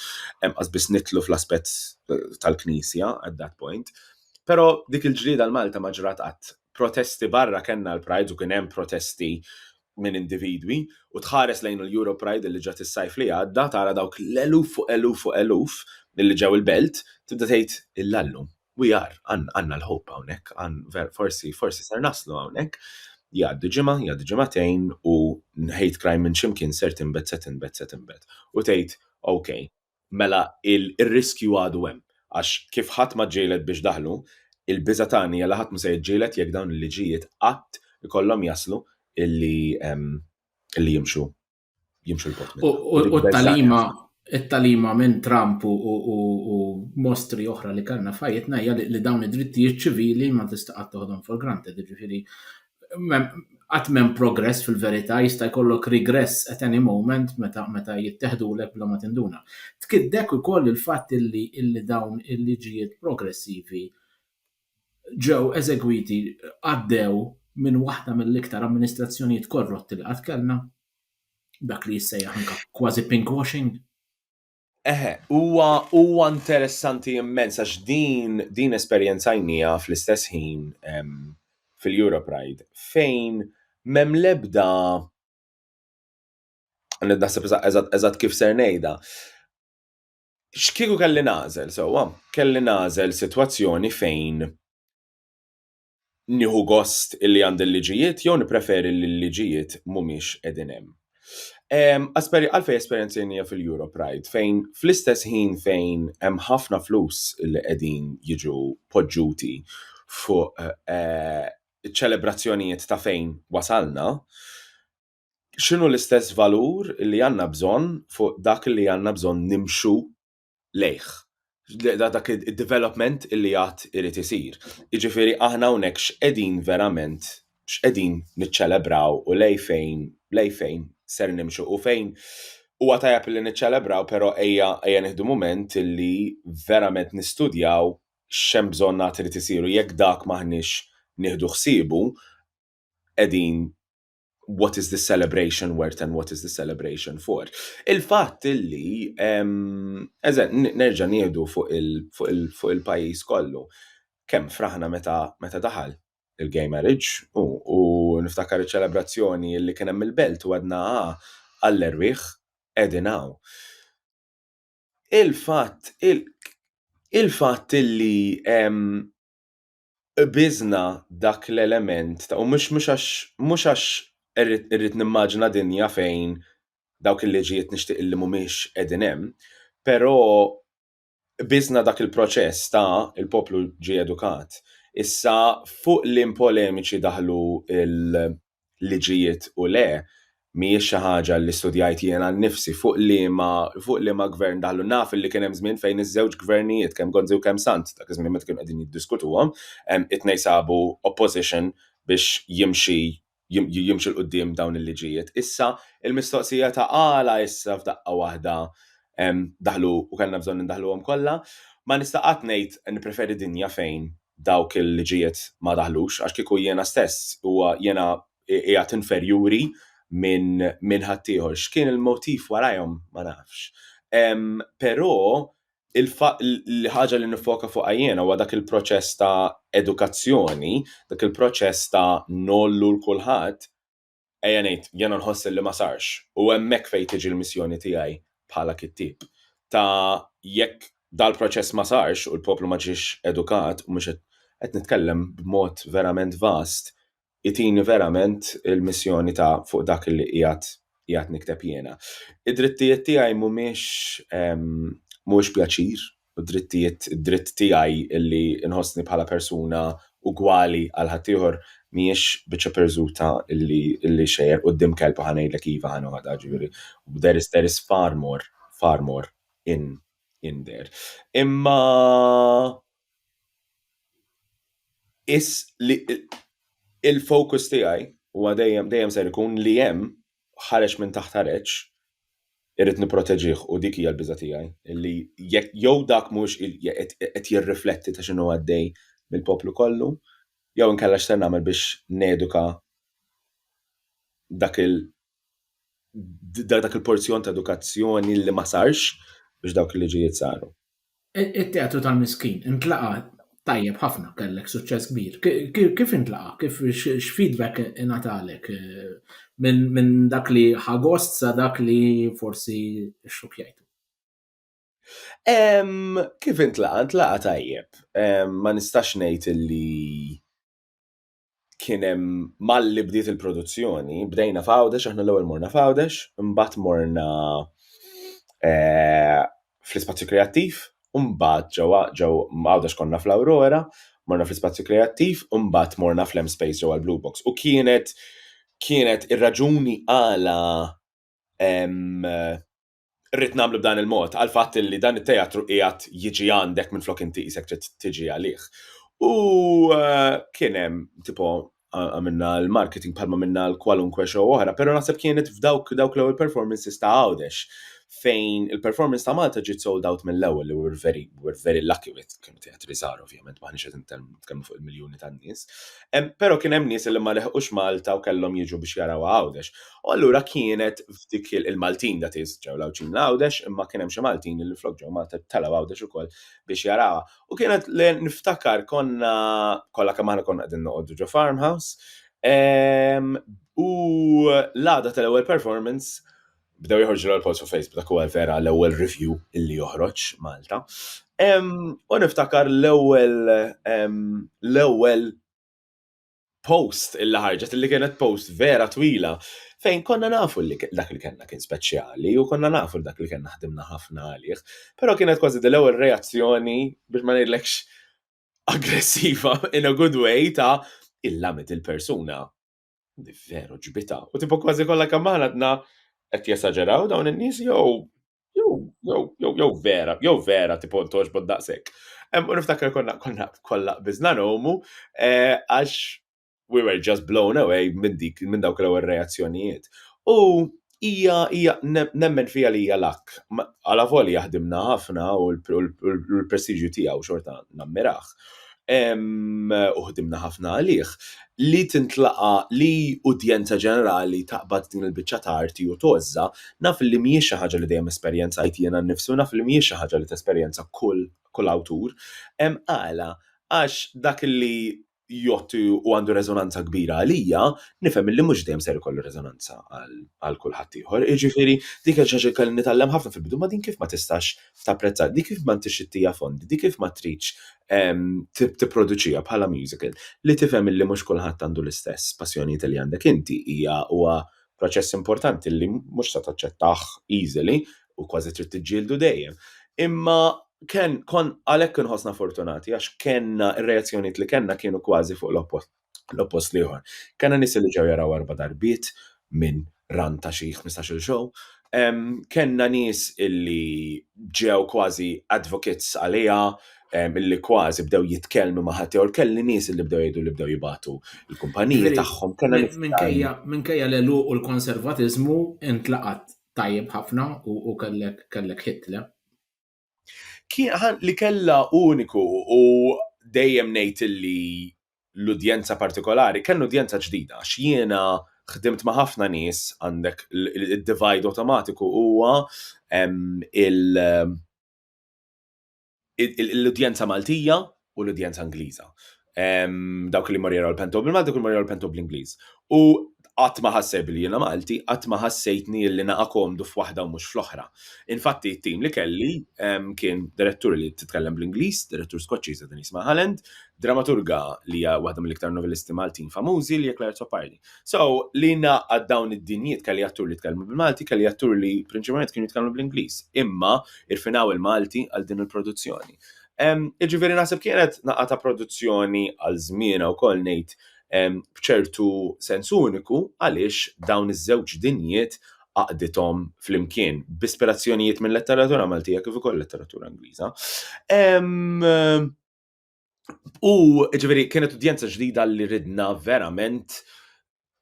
hemm biss nitlu fl-aspett eh, tal-Knisja at that point. Però dik il-ġlieda l-Malta ma ġrat qatt. Protesti barra kellna l-Pride u kien hemm protesti minn individwi u tħares lejn l-Euro Pride li ġat is-sajf li għadda tara dawk l-eluf fuq eluf fuq eluf li ġew il-belt tibda tgħid il-lallum. We are, għandna l-hope hawnhekk, forsi, forsi ser naslu hawnhekk. Jgħaddu ġimgħa, jgħaddu ġimagħtejn u hate crime minn xi mkien ser tinbet, se tinbet, se tinbet. U tgħid, ok, mela r-riskju għadu hemm. Għax kif ħadd ma ġġieled biex daħlu, il-biża' tagħna hija li ħadd mhu se jiġġieled jekk dawn il-liġijiet qatt ikollhom jaslu illi jimxu. jimxu l-bot. U t-talima, it-talima minn Trump u mostri oħra li kellna fajitna hija li dawn id-drittijiet ċivili ma tista' qatt toħodhom for granted, jiġifieri qatt m'hemm progress fil-verità jista' jkollok regress at any moment meta meta jitteħdulek bla ma tinduna. Tkiddek ukoll il-fatt illi dawn il-liġijiet progressivi ġew eżegwiti għaddew minn waħda mill-iktar amministrazzjonijiet korrotti li qatt kellna, dak li jissejjaħ anke kważi pink washing. Eħe, huwa huwa interessanti immens għax din din esperjenzajnija fl-istess ħin fil-Europe Ride fejn mem lebda naħseb eżatt kif ser ngħidha. X'kieku kelli nagħżel sewwa? Kelli nagħżel sitwazzjoni fejn nieħu gost illi għandi l-liġijiet jew nippreferi li l-liġijiet mhumiex qegħdin hemm. Għalfejn esperjenzajnija fil-Euro Pride fejn fl-istess ħin fejn hemm ħafna flus illi qegħdin jiġu poġġuti fuq iċ-ċelebrazzjonijiet ta' fejn wasalna, x'inhu l-istess valur li għandna bżonn fuq dak li għandna bżonn nimxu lejh dak id-development li għad irid isir. Jiġifieri aħna hawnhekk x'qegħdin verament x'qegħdin niċċelebraw u lej fejn lej fejn ser nimxu u fejn huwa tajjeb li niċċelebraw però ejja ejja nieħdu mument li verament nistudjaw x'hemm bżonn għad irid isir u jekk dak m'aħniex nieħdu ħsiebu qegħdin what is this celebration worth and what is this celebration for. Il-fatt illi, eżen, nerġa nieħdu fuq il-pajis kollu, kem fraħna meta daħal il-gay marriage u niftakar il-ċelebrazzjoni illi kienem il-belt u għadna ah, għall-erwieħ edin għaw. Il-fatt, il-fatt illi qbiżna dak l-element ta' u mhux mhux għax mhux għax irrid irrid nimmaġina dinja fejn dawk il-liġijiet nixtieq illi mhumiex qegħdin hemm, però qbiżna dak il-proċess ta' il-poplu ġie edukat. Issa fuq li n-polemiċi daħlu liġijiet u le, mhijiex xi ħaġa li studjajt jiena nnifsi fuq liema fuq liema gvern daħlu. Naf li kien hemm żmien fejn iż-żewġ gvernijiet kemm Gonzi u kemm Sant dak iż-żmien meta kienu qegħdin jiddiskutuhom, it-tnejn sabu opposition biex jimxi jimxi l quddiem dawn il-liġijiet. Issa il-mistoqsija ta' għala issa f'daqqa waħda daħlu u kellna bżonn indaħluhom kollha. Ma nista' qatt ngħid nippreferi dinja fejn dawk il-liġijiet ma daħlux għax kieku jiena stess huwa jiena qiegħed inferjuri minn min ħaddieħor. X'kien il-motiv warajhom ma nafx. Però il-ħaġa li nifoka fuqha jiena huwa dak il-proċess ta' edukazzjoni, dak il-proċess ta' nollu l-kulħadd Ejja ngħid, jiena nħoss li ma sarx, u hemmhekk fejn tiġi l-missjoni tiegħi bħala kittieb, ta' jekk dal-proċess ma sarx u l-poplu ma ġiex edukat, u mhux qed, qed nitkellem b'mod verament vast, itini verament il-missjoni ta' fuq dak li qiegħed, qiegħed nikteb jiena. Id-drittijiet tiegħi mhumiex, mhuwiex pjaċir. u d-drittijiet, id-dritt tiegħi li nħossni bħala persuna ugwali għal ħaddieħor, mhijiex biċċa pirżuta li xejjer quddiem kelb u ħa ngħidlek iva ħa noħodha, jiġifieri there is there is far more, far more in in there. Imma is li il-focus tiegħi huwa dejjem dejjem ser ikun li hemm ħareġ minn taħt areċ, irrid nipproteġih u dik hija l-biża' tiegħi li jekk jew dak mhuwiex qed jirrifletti ta' x'inhu għaddej mill-poplu kollu jew inkella x'ser nagħmel biex neduka dak il dak il-porzjon ta' edukazzjoni li ma sarx biex dawk il-liġijiet saru. It-teatru tal-miskin intlaqa tajjeb ħafna kellek suċċess kbir. Kif intlaqa? Kif x'feedback ingħatalek eh, minn dak li ħagost sa dak li forsi xxukjajtu? Kif intlaqa? Intlaqa tajjeb. Ma nistax ngħid li kien hemm malli bdiet il-produzzjoni, bdejna f'Għawdex, aħna l-ewwel morna f'Għawdex, imbagħad morna eh, fl-ispazju kreattiv, imbagħad ġewwa ġew Għawdex konna fl-Aurora, morna fl-ispazju kreattiv, imbagħad morna fl-M Space ġewwa l-Blue Box. U kienet kienet ir-raġuni għala rrid nagħmlu b'dan il-mod għall-fatt li dan it-teatru qiegħed jiġi għandek minflok inti qisek trid tiġi għalih. U eh, kien hemm tipo għamilna l-marketing bħalma minna l-kwalunkwe show oħra, pero naħseb kienet f'dawk dawk l-ewwel performances ta' għawdex fejn il-performance ta' Malta ġiet sold out mill-ewwel li we're very, we're very lucky with kien teatri żgħar ovvjament maħniex qed nitkellmu fuq il-miljuni tan-nies. Però kien hemm nies li ma leħqux Malta u kellhom jiġu biex jaraw għawdex. U allura kienet f'dik il-Maltin dat is ġew l-Għawdxin l-Għawdex imma kien hemm xi Maltin li minflok ġew Malta telgħu Għawdex ukoll biex jarawha. U kienet li niftakar konna kollha kemm aħna konna qegħdin noqogħdu ġo Farmhouse ehm, u l-għada tal-ewwel performance bdew joħorġu l-post fuq Facebook dak huwa vera l-ewwel review illi joħroġ Malta. Ehm, u niftakar l-ewwel ehm, l-ewwel post illi ħarġet illi kienet post vera twila fejn konna nafu li dak li kellna kien speċjali u konna nafu li dak li kellna ħdimna ħafna għalih, però kienet kważi dil-ewwel reazzjoni biex ma ngħidlekx aggressiva in a good way ta' il-lamet il-persuna. Veru ġbita. U tipo kważi kollha kemm aħna qed jesaġeraw dawn in-nies jew Jow vera, jow vera tipo ntoġ bod daqsek. U niftakar konna konna kolla bizna nomu eh, għax we were just blown away minn dik minn dawk l-ewwel reazzjonijiet. U hija hija nemmen fija li hija lak. Għala voli jaħdimna ħafna u l-prestiġju tiegħu xorta nammirah. u ħdimna ħafna għalih, li tintlaqa' li udjenza ġenerali taqbad din il-biċċa ta' arti u tgħożżha, naf li mhijiex xi ħaġa li dejjem esperjenzajt jiena nnifsi u naf li mhijiex xi ħaġa li tesperjenza kull awtur. Għala? Għax dak li jgħodd u għandu reżonanza kbira għalija, nifhem li mhux dejjem ser ikollu reżonanza għal kulħadd ieħor. Jiġifieri, dik hija xi ħaġa li kelli nitgħallem ħafna fil-bidu, ma' din kif ma tistax tapprezza, di kif ma ntix ittija fondi, di kif ma tridx ehm, tipproduċija bħala musical, li tifhem illi mhux kulħadd għandu l-istess passjonijiet li għandek inti hija huwa proċess importanti li mhux se taċċettah easily u kważi trid tiġġieldu dejjem. Imma ken kon għalhekk inħossna fortunati għax kenna r-reazzjonijiet li kenna kienu kważi fuq l-oppost l-oppost l-ieħor. Kellna nies li ġew jaraw erba' darbiet minn run ta' xi ħmistax-il show. Kellna nies illi ġew kważi advocates għaliha, illi kważi bdew jitkellmu ma' ħaddieħor, kelli nies illi bdew jgħidu li bdew jibagħtu l-kumpaniji tagħhom. Minkejja l-għeluq u l-konservatiżmu intlaqat tajjeb ħafna u kellek hit, le? Kien li kellha uniku u dejjem ngħid illi l-udjenza partikolari, kien udjenza ġdida għax jiena ħdimt ma' ħafna nies għandek id-divide awtomatiku huwa l-udjenza Maltija u l-udjenza Ingliża. Dawk li morjeru l-pento bil-Malti, kull morjeru l-pento bl-Ingliż. U qatt ma ħasseb li jiena Malti, qatt ma ħassejtni li naqa' komdu f'waħda u mhux fl-oħra. Infatti, t-tim li kelli kien direttur li titkellem bl-Ingliż, direttur Skoċċiża din jisma' Halland, dramaturga li hija waħda mill-iktar novellisti Maltin famużi li hija Claire Topardi. So, li naqa' dawn id-dinjiet kelli attur li tkellmu bil-Malti, kelli attur li prinċipalment kienu jitkellmu bl-Ingliż, imma irfinaw il-Malti għal din il-produzzjoni. Jiġifieri naħseb kienet naqgħa ta' produzzjoni għal żmienha wkoll ngħid b'ċertu sens uniku għaliex dawn iż-żewġ dinjiet għaqdithom flimkien b'ispirazzjonijiet mil-letteratura Maltija kif ukoll letteratura Ingliża. U jiġifieri kienet udjenza ġdida li ridna verament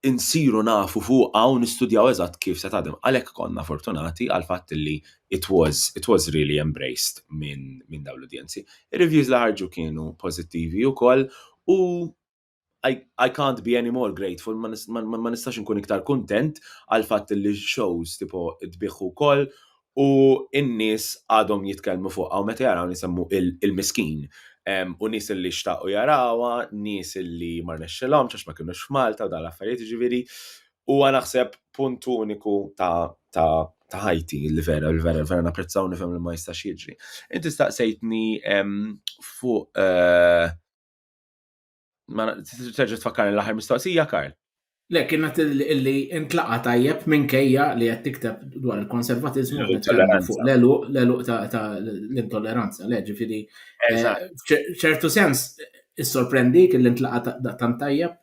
insiru nafu fuqha u nistudjaw eżatt kif se tadem. Għalhekk konna fortunati għal fatt li it was it was really embraced minn min dawn l-udjenzi. Ir-reviews li ħarġu kienu pożittivi wkoll u I, I can't be any more grateful, ma nistax nkun iktar kuntent għal fatt li shows tipo tbiħħu wkoll u n-nies għadhom jitkellmu fuqha u meta jaraw nisemmu il-miskin u nies li xtaqu jarawha, nies li ma rnexxilhomx għax ma kinux f'Malta u dan l-affarijiet jiġifieri huwa naħseb punt uniku ta' ta' ħajti li vera li vera vera napprezzaw nifhem li ma jistax jiġri. Inti staqsejtni fuq eh, Ma terġa' tfakkar l-aħħar mistoqsija, Karl. Le, kienet illi intlaqa tajjeb minn kejja li qed tikteb dwar il-konservatizmu fuq l-eluq ta' l-intolleranza, le ġifieri. Eh, ċertu sens, is-sorprendi kelli intlaqa ta' tant tajjeb.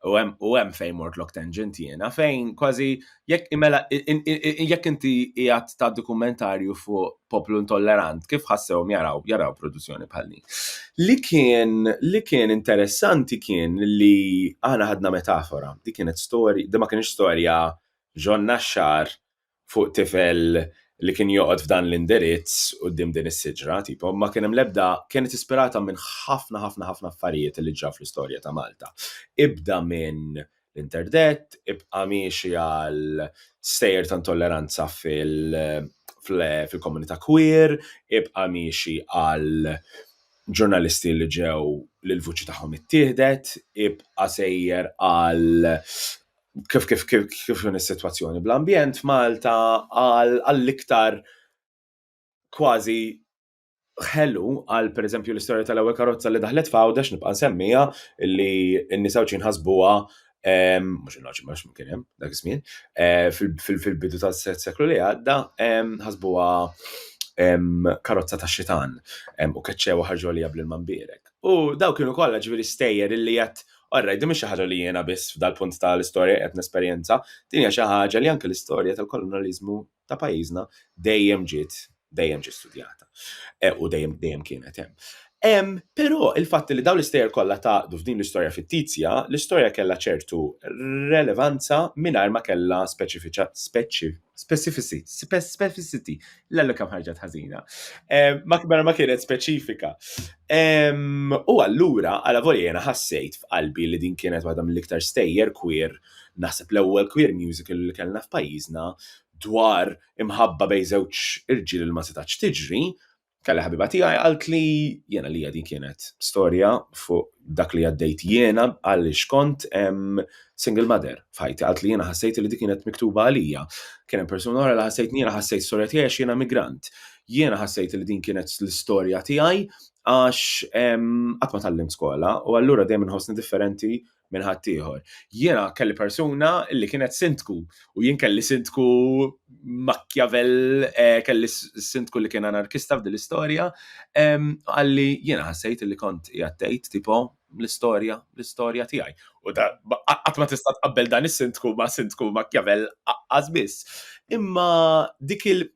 U hemm u hemm fejn mort lok tangent jiena fejn kważi jekk imela jekk inti qiegħed ta' dokumentarju fuq poplu intollerant kif ħassewhom jaraw jaraw produzzjoni bħal din. Li kien li kien interessanti kien li aħna ħadna metafora, dik kienet storja, di ma kienx storja ġonna xar fuq tifel li kien joqgħod f'dan l-indirizz quddiem din is-siġra, tipo, ma kien hemm l-ebda kienet ispirata minn ħafna ħafna ħafna affarijiet li ġraw fl-istorja ta' Malta. Ibda minn l-interdett, ibqa' miexi għal stejjer ta' intolleranza fil- fil-komunità queer, ibqa' miexi għal ġurnalisti li ġew li l-vuċi tagħhom ittieħdet, ibqa' sejjer għal kif kif kif kif is-sitwazzjoni bl-ambjent f'Malta għall-iktar kważi ħelu għal pereżempju l-istorja tal-ewwel karozza li daħlet f'Għawdex nibqa' nsemmiha li n-nisa Għawdxin ħasbuha mhux il-Għawdxin għax ma kien hemm dak iż-żmien fil-bidu tas-seklu li għadda ħasbuha karozza tax-xitan u keċċewha ħarġu għaliha bl-ilma mbierek. U dawk kienu kollha ġifieri stejjer illi qed All right, din mhix xi ħaġa li jiena biss f'dal-punt ta' l-istorja qiegħed nesperjenza, din hija xi ħaġa li anke l-istorja tal-kolonjaliżmu ta' pajjiżna dejjem ġiet dejjem ġiet studjata e, u dejjem dejjem kienet hemm. Hemm però il-fatt li dawn l-istejjer kollha tgħaqqdu f'din l-istorja fittizja, l-istorja kellha ċertu relevanza mingħajr ma kellha speċifiċa speċi Specificity. Specificity. L-għallu kam ħarġat ħazina. Ma kbara ma kienet speċifika. U allura, għala voli jena ħassejt f'qalbi li din kienet waħda mill-iktar stejjer queer, naħseb l-ewwel queer musical li kellna f'pajjiżna dwar imħabba bej żewġ irġiel li ma setax tiġri, Kelli ħabiba tiegħi għalt li jiena li din kienet storja fuq dak li għaddejt jiena għal xkont single mother f'ħajti għalt li jiena ħassejt li dik kienet miktuba għalija. Kien hemm persuna oħra li ħassejt jiena ħassejt storja tiegħi għax jiena migrant. Jiena ħassejt li din kienet l-istorja tiegħi għax qatt ma tallimt skola u allura dejjem inħossni differenti minn ħaddieħor. Jiena kelli persuna li kienet sindku u jien kelli sindku makjavel eh, kelli sindku li kien anarkista f'din l-istorja, għalli jiena ħassejt li kont jattejt tipo l-istorja, l-istorja tiegħi. U da qatt ma tista' tqabbel dan is-sindku ma' sindku makjavel għażbis. Imma dik il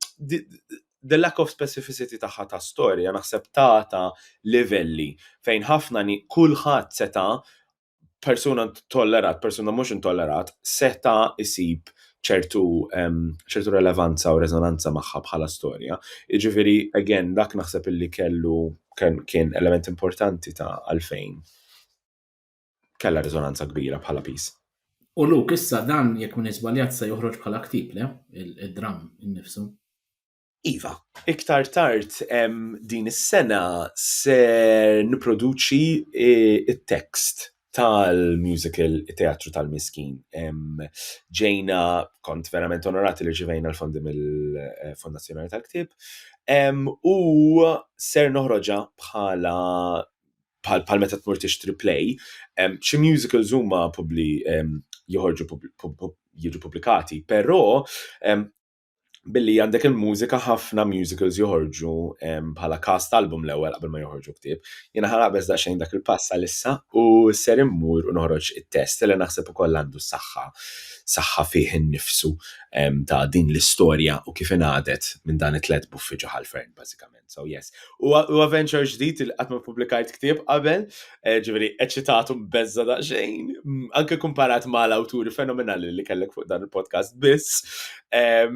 the lack of specificity tagħha ta' storja naħseb tata livelli fejn ħafna ni kulħadd seta' persuna tollerat, persuna mhux intollerat, seta' isib ċertu ċertu relevanza u rezonanza magħha bħala storja. Jiġifieri again dak naħseb illi kellu kien element importanti ta' għalfejn kellha riżonanza kbira bħala piż. U Luke issa dan jekk m'iniex żbaljat se joħroġ bħala ktieb, le? Id-dramm innifsu. Iva, iktar tard din is-sena se nipproduċi t-tekst e, tal-musical Teatru tal-Miskin. Ġejna, kont verament onorati li ġivejna l-fondi mill-Fondazzjoni tal-Ktib. U ser noħroġa bħala bħal meta tmur tixtri play, xi musicals huma publi joħorġu jiġu publikati, però billi għandek il-mużika ħafna musicals joħorġu bħala cast album l-ewwel qabel ma joħorġu ktieb. Jiena ħarabes daqsxejn dak il-pass għalissa u ser immur u noħroġ it-test li naħseb ukoll għandu saħħa saħħa fih innifsu ta' din l-istorja u kif ingħadet minn dan it-tlet buffi ġo ħalfern bażikament. So yes. U adventure ġdid il qatt ma publikajt ktieb qabel, eh, ġifieri eċitatu beżza daqsxejn, mm, anke kumparat ma' l-awturi fenomenali li kellek fuq dan il-podcast biss. Eh,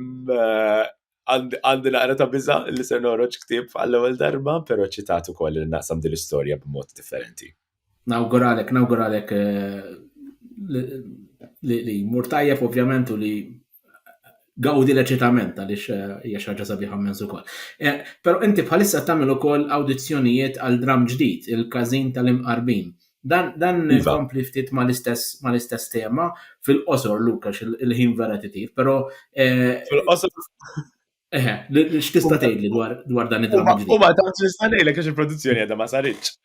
għandi naqra ta' biża li se noroġ ktieb għall-ewwel darba, però ċitatu koll li naqsam din l-istorja b'mod differenti. Nawguralek, nawguralek eh, li mur tajjeb ovvjament u li gawdi l-eċitament għaliex eh, hija xi ħaġa sabiħa mezz ukoll. Eh, però inti bħalissa tagħmel ukoll awdizzjonijiet għal dram ġdid, il-każin tal-imqarbin. Dan dan iva. kompli ftit mal-istess mal-istess tema fil-qosor Lukax il-ħin vera titif, però eh, fil-qosor Eħe, x'tista' tgħidli dwar dwar dan id-dramma ġdid? Huma ta' nista' ngħidlek għax il-produzzjoni għadha ma saritx.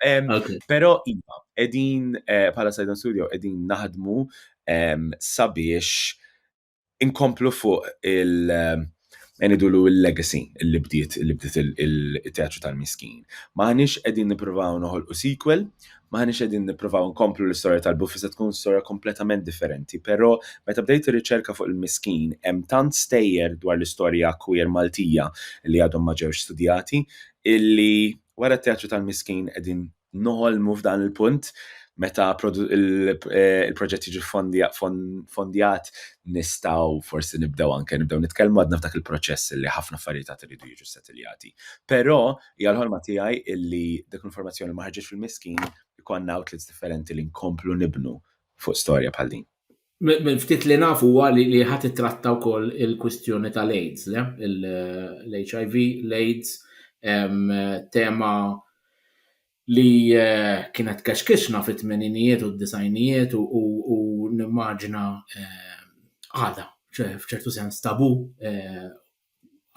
Però iva, qegħdin eh, bħala Sidon Studio qegħdin naħdmu sabiex inkomplu fuq il- eh, Enidulu il-legacy li bdiet li bdiet il-teatru tal-miskin. Maħniex qegħdin nippruvaw noħolqu sequel, M'aħniex qegħdin nippruvaw inkomplu l-istorja tal-Buffy se tkun storja kompletament differenti, però meta bdejt ir-riċerka fuq il-miskin hemm tant stejjer dwar l-istorja queer Maltija li għadhom ma ġewx studjati illi wara t-teatru tal-miskin qegħdin noħolmu f'dan il-punt meta il-proġett jiġi ffondjat nistgħu forsi nibdew anke nibdew nitkellmu għadna f'dak il-proċess illi ħafna affarijiet għad iridu jiġu settiljati. Però Hija l-ħolma tiegħi illi dik l-informazzjoni ma ħarġitx fil-miskin ikollna outlets differenti li nkomplu nibnu fuq storja bħal din. Mill-ftit li naf huwa li li ħadd ittratta wkoll il-kwistjoni tal-AIDS, le? L-HIV, l-AIDS, tema li kienet kexkixna fit-tmeninijiet u d-disgħinijiet u nimmaġina għadha f'ċertu sens tabu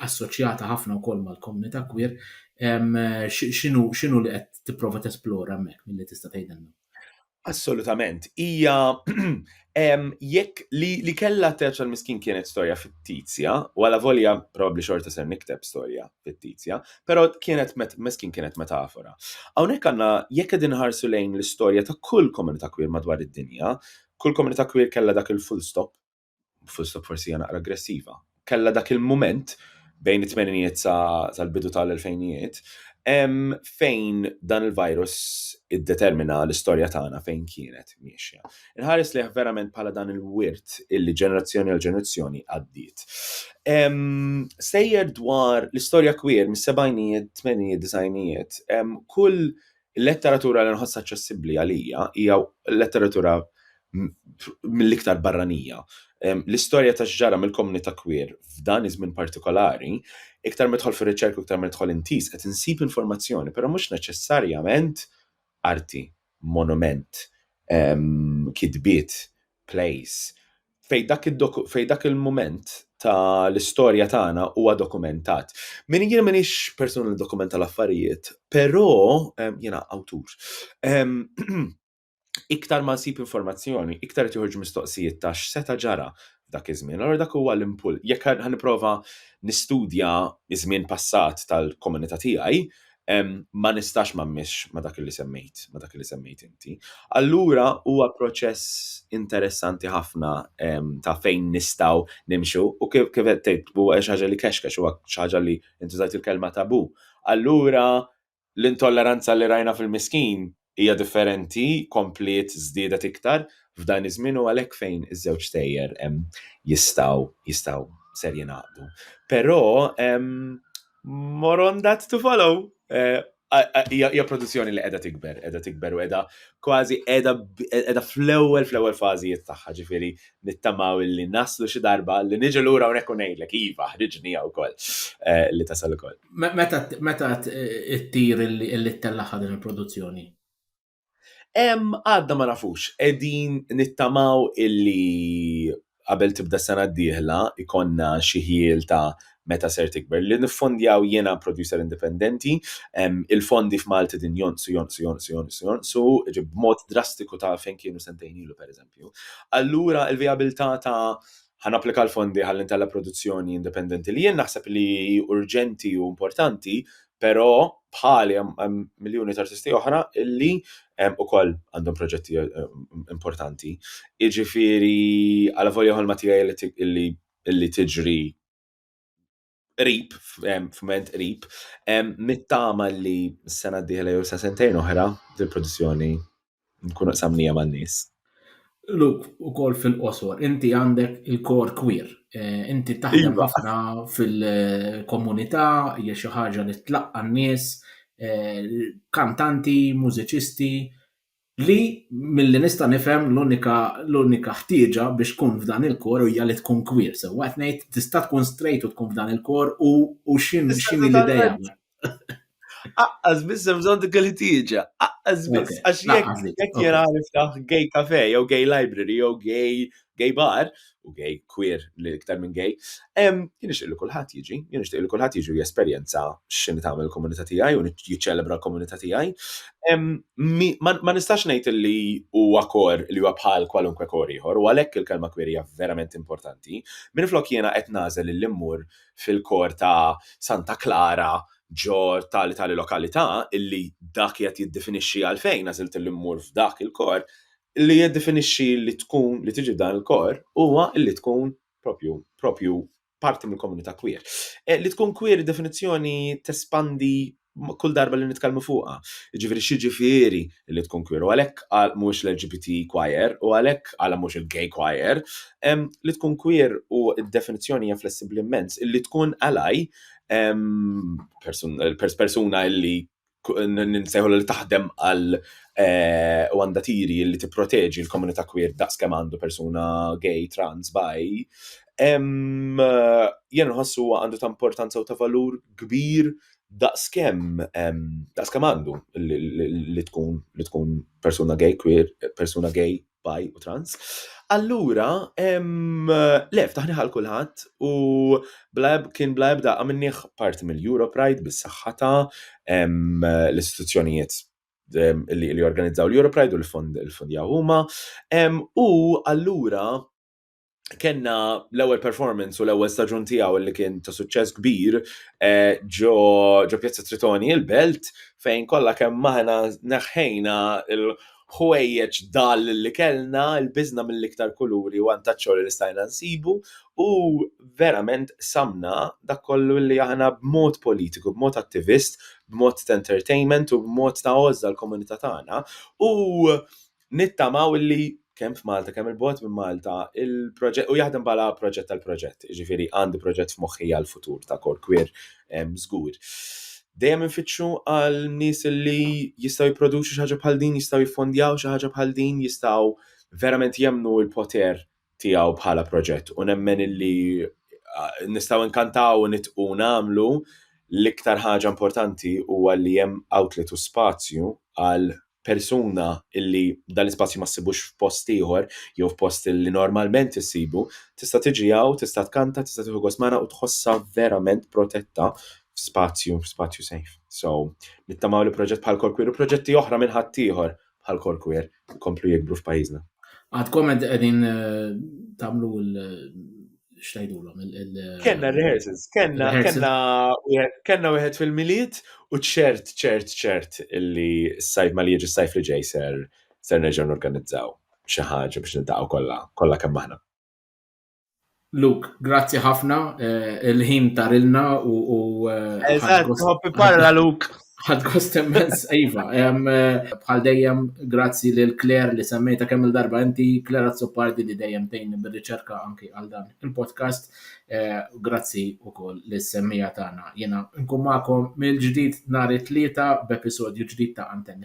assoċjata ħafna wkoll mal-komunità kwir, x'inhu li qed tipprova tesplora hemmhekk milli tista' tgħidilna? Assolutament. Hija jekk li kellha teċa l-miskin kienet storja fittizja, u għala volja probabbli xorta ser nikteb storja fittizja, però kienet miskin kienet metafora. Hawnhekk għandna jekk qegħdin ħarsu lejn l-istorja ta' kull komunità kwir madwar id-dinja, kull komunità kwir kellha dak il-full stop fusta forsi hija naqra aggressiva, kella dak il-mument bejn it-tmeninijiet tal-bidu tal-elfejnijiet fejn dan il-virus iddetermina l-istorja tagħna fejn kienet miexja. Inħares lejh verament bħala dan il-wirt illi ġenerazzjoni għal ġenerazzjoni għaddiet. Sejjer dwar l-istorja kwir mis-sebgħinijiet, tmeninijiet, disgħinijiet, kull Il-letteratura li nħoss aċċessibbli għalija hija l-letteratura mill-iktar barranija. L-istorja ta' x'ġara mill-komunità queer f'dan iż-żmien partikolari, iktar ma nidħol fir-riċerka u iktar ma nidħol intiż qed insib informazzjoni, però mhux neċessarjament arti, monument, kitbiet, place. Fejn dak id-doku- fejn dak il-mument ta' l-istorja tagħna huwa dokumentat. Min jien m'iniex persuna li dokumenta l-affarijiet, però em, jiena awtur. Em, iktar ma nsib informazzjoni, iktar qed joħorġu mistoqsijiet ta' x'seta' ġara f'dak iż-żmien. Allora dak huwa l-impull. Jekk ħa- ħa nipprova nistudja ż-żmien passat tal-komunità tiegħi, ma nistax ma mmiexx ma' dak li semmejt, ma' dak li semmejt inti. Allura huwa proċess interessanti ħafna ta' fejn nistgħu nimxu u kif kif qed tgħid huwa xi ħaġa li kexkex huwa xi ħaġa li intużajt il-kelma tabu. Allura l-intolleranza li rajna fil-miskin Hija differenti, kompliet żdiedet iktar f'dan iż-żmien u għalhekk fejn iż-żewġ stejjer jistgħu jistgħu ser jingħaqdu. Però more on that to follow. Hija produzzjoni li qiegħda tikber, qiegħda tikber u qiegħda kważi qiegħda qiegħda fl-ewwel fl-ewwel fażijiet tagħha, ġifieri Nittamaw illi naslu xi darba li niġi lura hawnhekk u ngħidlek, iva, ħriġni hawn ukoll eh, li tasal ukoll. Meta ttir illi ttellaħħa din il-produzzjoni? Għadna ma nafux, qegħdin nittamaw illi qabel tibda s-sena d-dieħla ikonna xi ħjiel ta' meta ser tikber. Li niffondjaw jiena producer indipendenti, il-fondi f'Malti din jonqsu, jonqsu, jonqsu, jonqsu, jonqsu, b'mod drastiku ta' fejn kienu sentejn ilu, per eżempju. allura l-vijabilità ta' ħa napplika l-fondi ħalli ntella' produzzjoni indipendenti li jien naħseb li hi urġenti u importanti, però bħali hemm miljuni ta' artisti oħra illi ukoll għandhom proġetti importanti. Jiġifieri għalavolja ħolma tiegħi illi tiġri qrib, f'ment qrib, nittama li s-sena d-dieħla jew sa sentejn oħra dil-produzzjoni nkunu qsamnija man-nies. Luk, ukoll fil-qosor, inti għandek il-kor kwir. Eh, inti taħdem iva. ħafna fil-komunità, hija xi ħaġa li tlaqqa n-nies, eh, kantanti, mużiċisti. Li, milli nista' nifhem, l-unika, l-unika ħtieġa biex tkun f'dan il-kor hija li tkun kwier, sewwa qed ngħid? Tista' tkun straight u tkun f'dan il-kor u, u x'in, x'inhi l-idea? Aqqas biss hemm bżonn dik il-ħtieġa, aqqas biss, għax jekk, jekk jiena niftaħ gay cafe jew gay library jew gay gay bar, u gay queer li iktar minn gay, jien nixtieq li kulħadd jiġi, jien nixtieq li kulħadd jiġi u jesperjenza x'inhi tagħmel il-komunità tiegħi u jiċċelebra l-komunità tiegħi. Ma nistax ngħid li huwa kor li huwa bħal kwalunkwe kor ieħor u għalhekk il-kelma queer hija verament importanti. Minflok jiena qed nagħżel li mmur fil-kor ta' Santa Klara ġo tali tali lokalità illi dak qiegħed jiddefinixxi għalfejn għażilt li mmur f'dak il-kor, li jiddefinixxi li tkun, li tiġi f'dan il-kor, huwa li tkun propju, propju parti mill-komunità queer. Eh, li tkun queer id-definizzjoni tespandi kull darba li nitkellmu fuqha. Jiġifieri x'jiġifieri li tkun queer u għalhekk għal mhux l-LGBT choir u għalhekk għal mhux il-gay choir. Ehm, li tkun queer u d-definizzjoni hija flessibbli immens illi tkun ally ehm, persuna illi nsejħulha li taħdem għal eh, u għandha tiri li tipproteġi l-komunità queer daqs kemm għandu persuna gay, trans, bi. Jien nħossu għandu ta' importanza u ta' valur kbir daqs kemm daqs kemm għandu li tkun li tkun persuna gay, queer, persuna gay, bi u trans. Allura, le, ftaħni ħal kulħadd u kien bla ebda għamilnieh parti mill-Euro Pride bis-saħħata, l-istituzzjonijiet li organizzaw l-Euro Pride u l-fondjaw huma. U allura, kenna l-ewwel performance u l-ewwel staġun tiegħu li kien ta' suċċess kbir eh, ġo ġo Pjazza Tritoni il-Belt fejn kollha kemm maħna neħħejna il-ħwejjeġ dal li kellna l-biżna mill-iktar kuluri u antaċċoli li stajna nsibu u verament samna dak kollu li aħna b'mod politiku, b'mod attivist, b'mod ta' entertainment u b'mod ta' għożża l-komunità tagħna u nittamaw illi kemm f'Malta, kemm il-bot minn Malta, il-proġett, u jaħdem bħala proġett tal-proġett, ġifiri għandi proġett f'moħħi għal-futur ta' kor kwir żgur. Dejjem infittxu għal nies li jistgħu jipproduċu xi ħaġa bħal din, jistgħu jiffondjaw xi ħaġa bħal din, jistgħu verament jemnu l-poter tiegħu bħala proġett u nemmen illi nistgħu nkantaw u nitqu nagħmlu l-iktar ħaġa importanti huwa li hemm outlet u spazju għal persuna illi dan l-ispazju ma ssibux f'post ieħor jew f'post li normalment issibu, tista' tiġi hawn, tista' tkanta, tista' tieħu gost magħna u tħossha verament protetta f'spazju, f'spazju safe. So, nittamaw li proġett bħal Korkwir u proġetti oħra minn ħaddieħor bħal Korkwir jkomplu jikbru f'pajjiżna. Għadkom qegħdin eh, tagħmlu xtajdulhom il Kenna rehearsals, kenna kenna kenna wieħed fil-miliet u ċert ċert ċert illi s-sajf ma li jiġi s-sajf li ġej ser ser nerġgħu norganizzaw xi ħaġa biex nintaqgħu kollha kollha kemm aħna. Luke, grazzi ħafna, eh, il-ħin tarilna u. Eh, Eżatt, hoppi parla Luke. Għad kost immens, Iva. Eh, bħal dejjem, grazzi lil Claire li semmejta kemm il-darba inti, Claire Azzopardi li dejjem tejn bil-riċerka anki għal dan il-podcast. Eh, grazzi u koll li semmija tagħna. Jena nkumakom mill-ġdid nar it-tlieta b'episodju ġdid ta' Antenni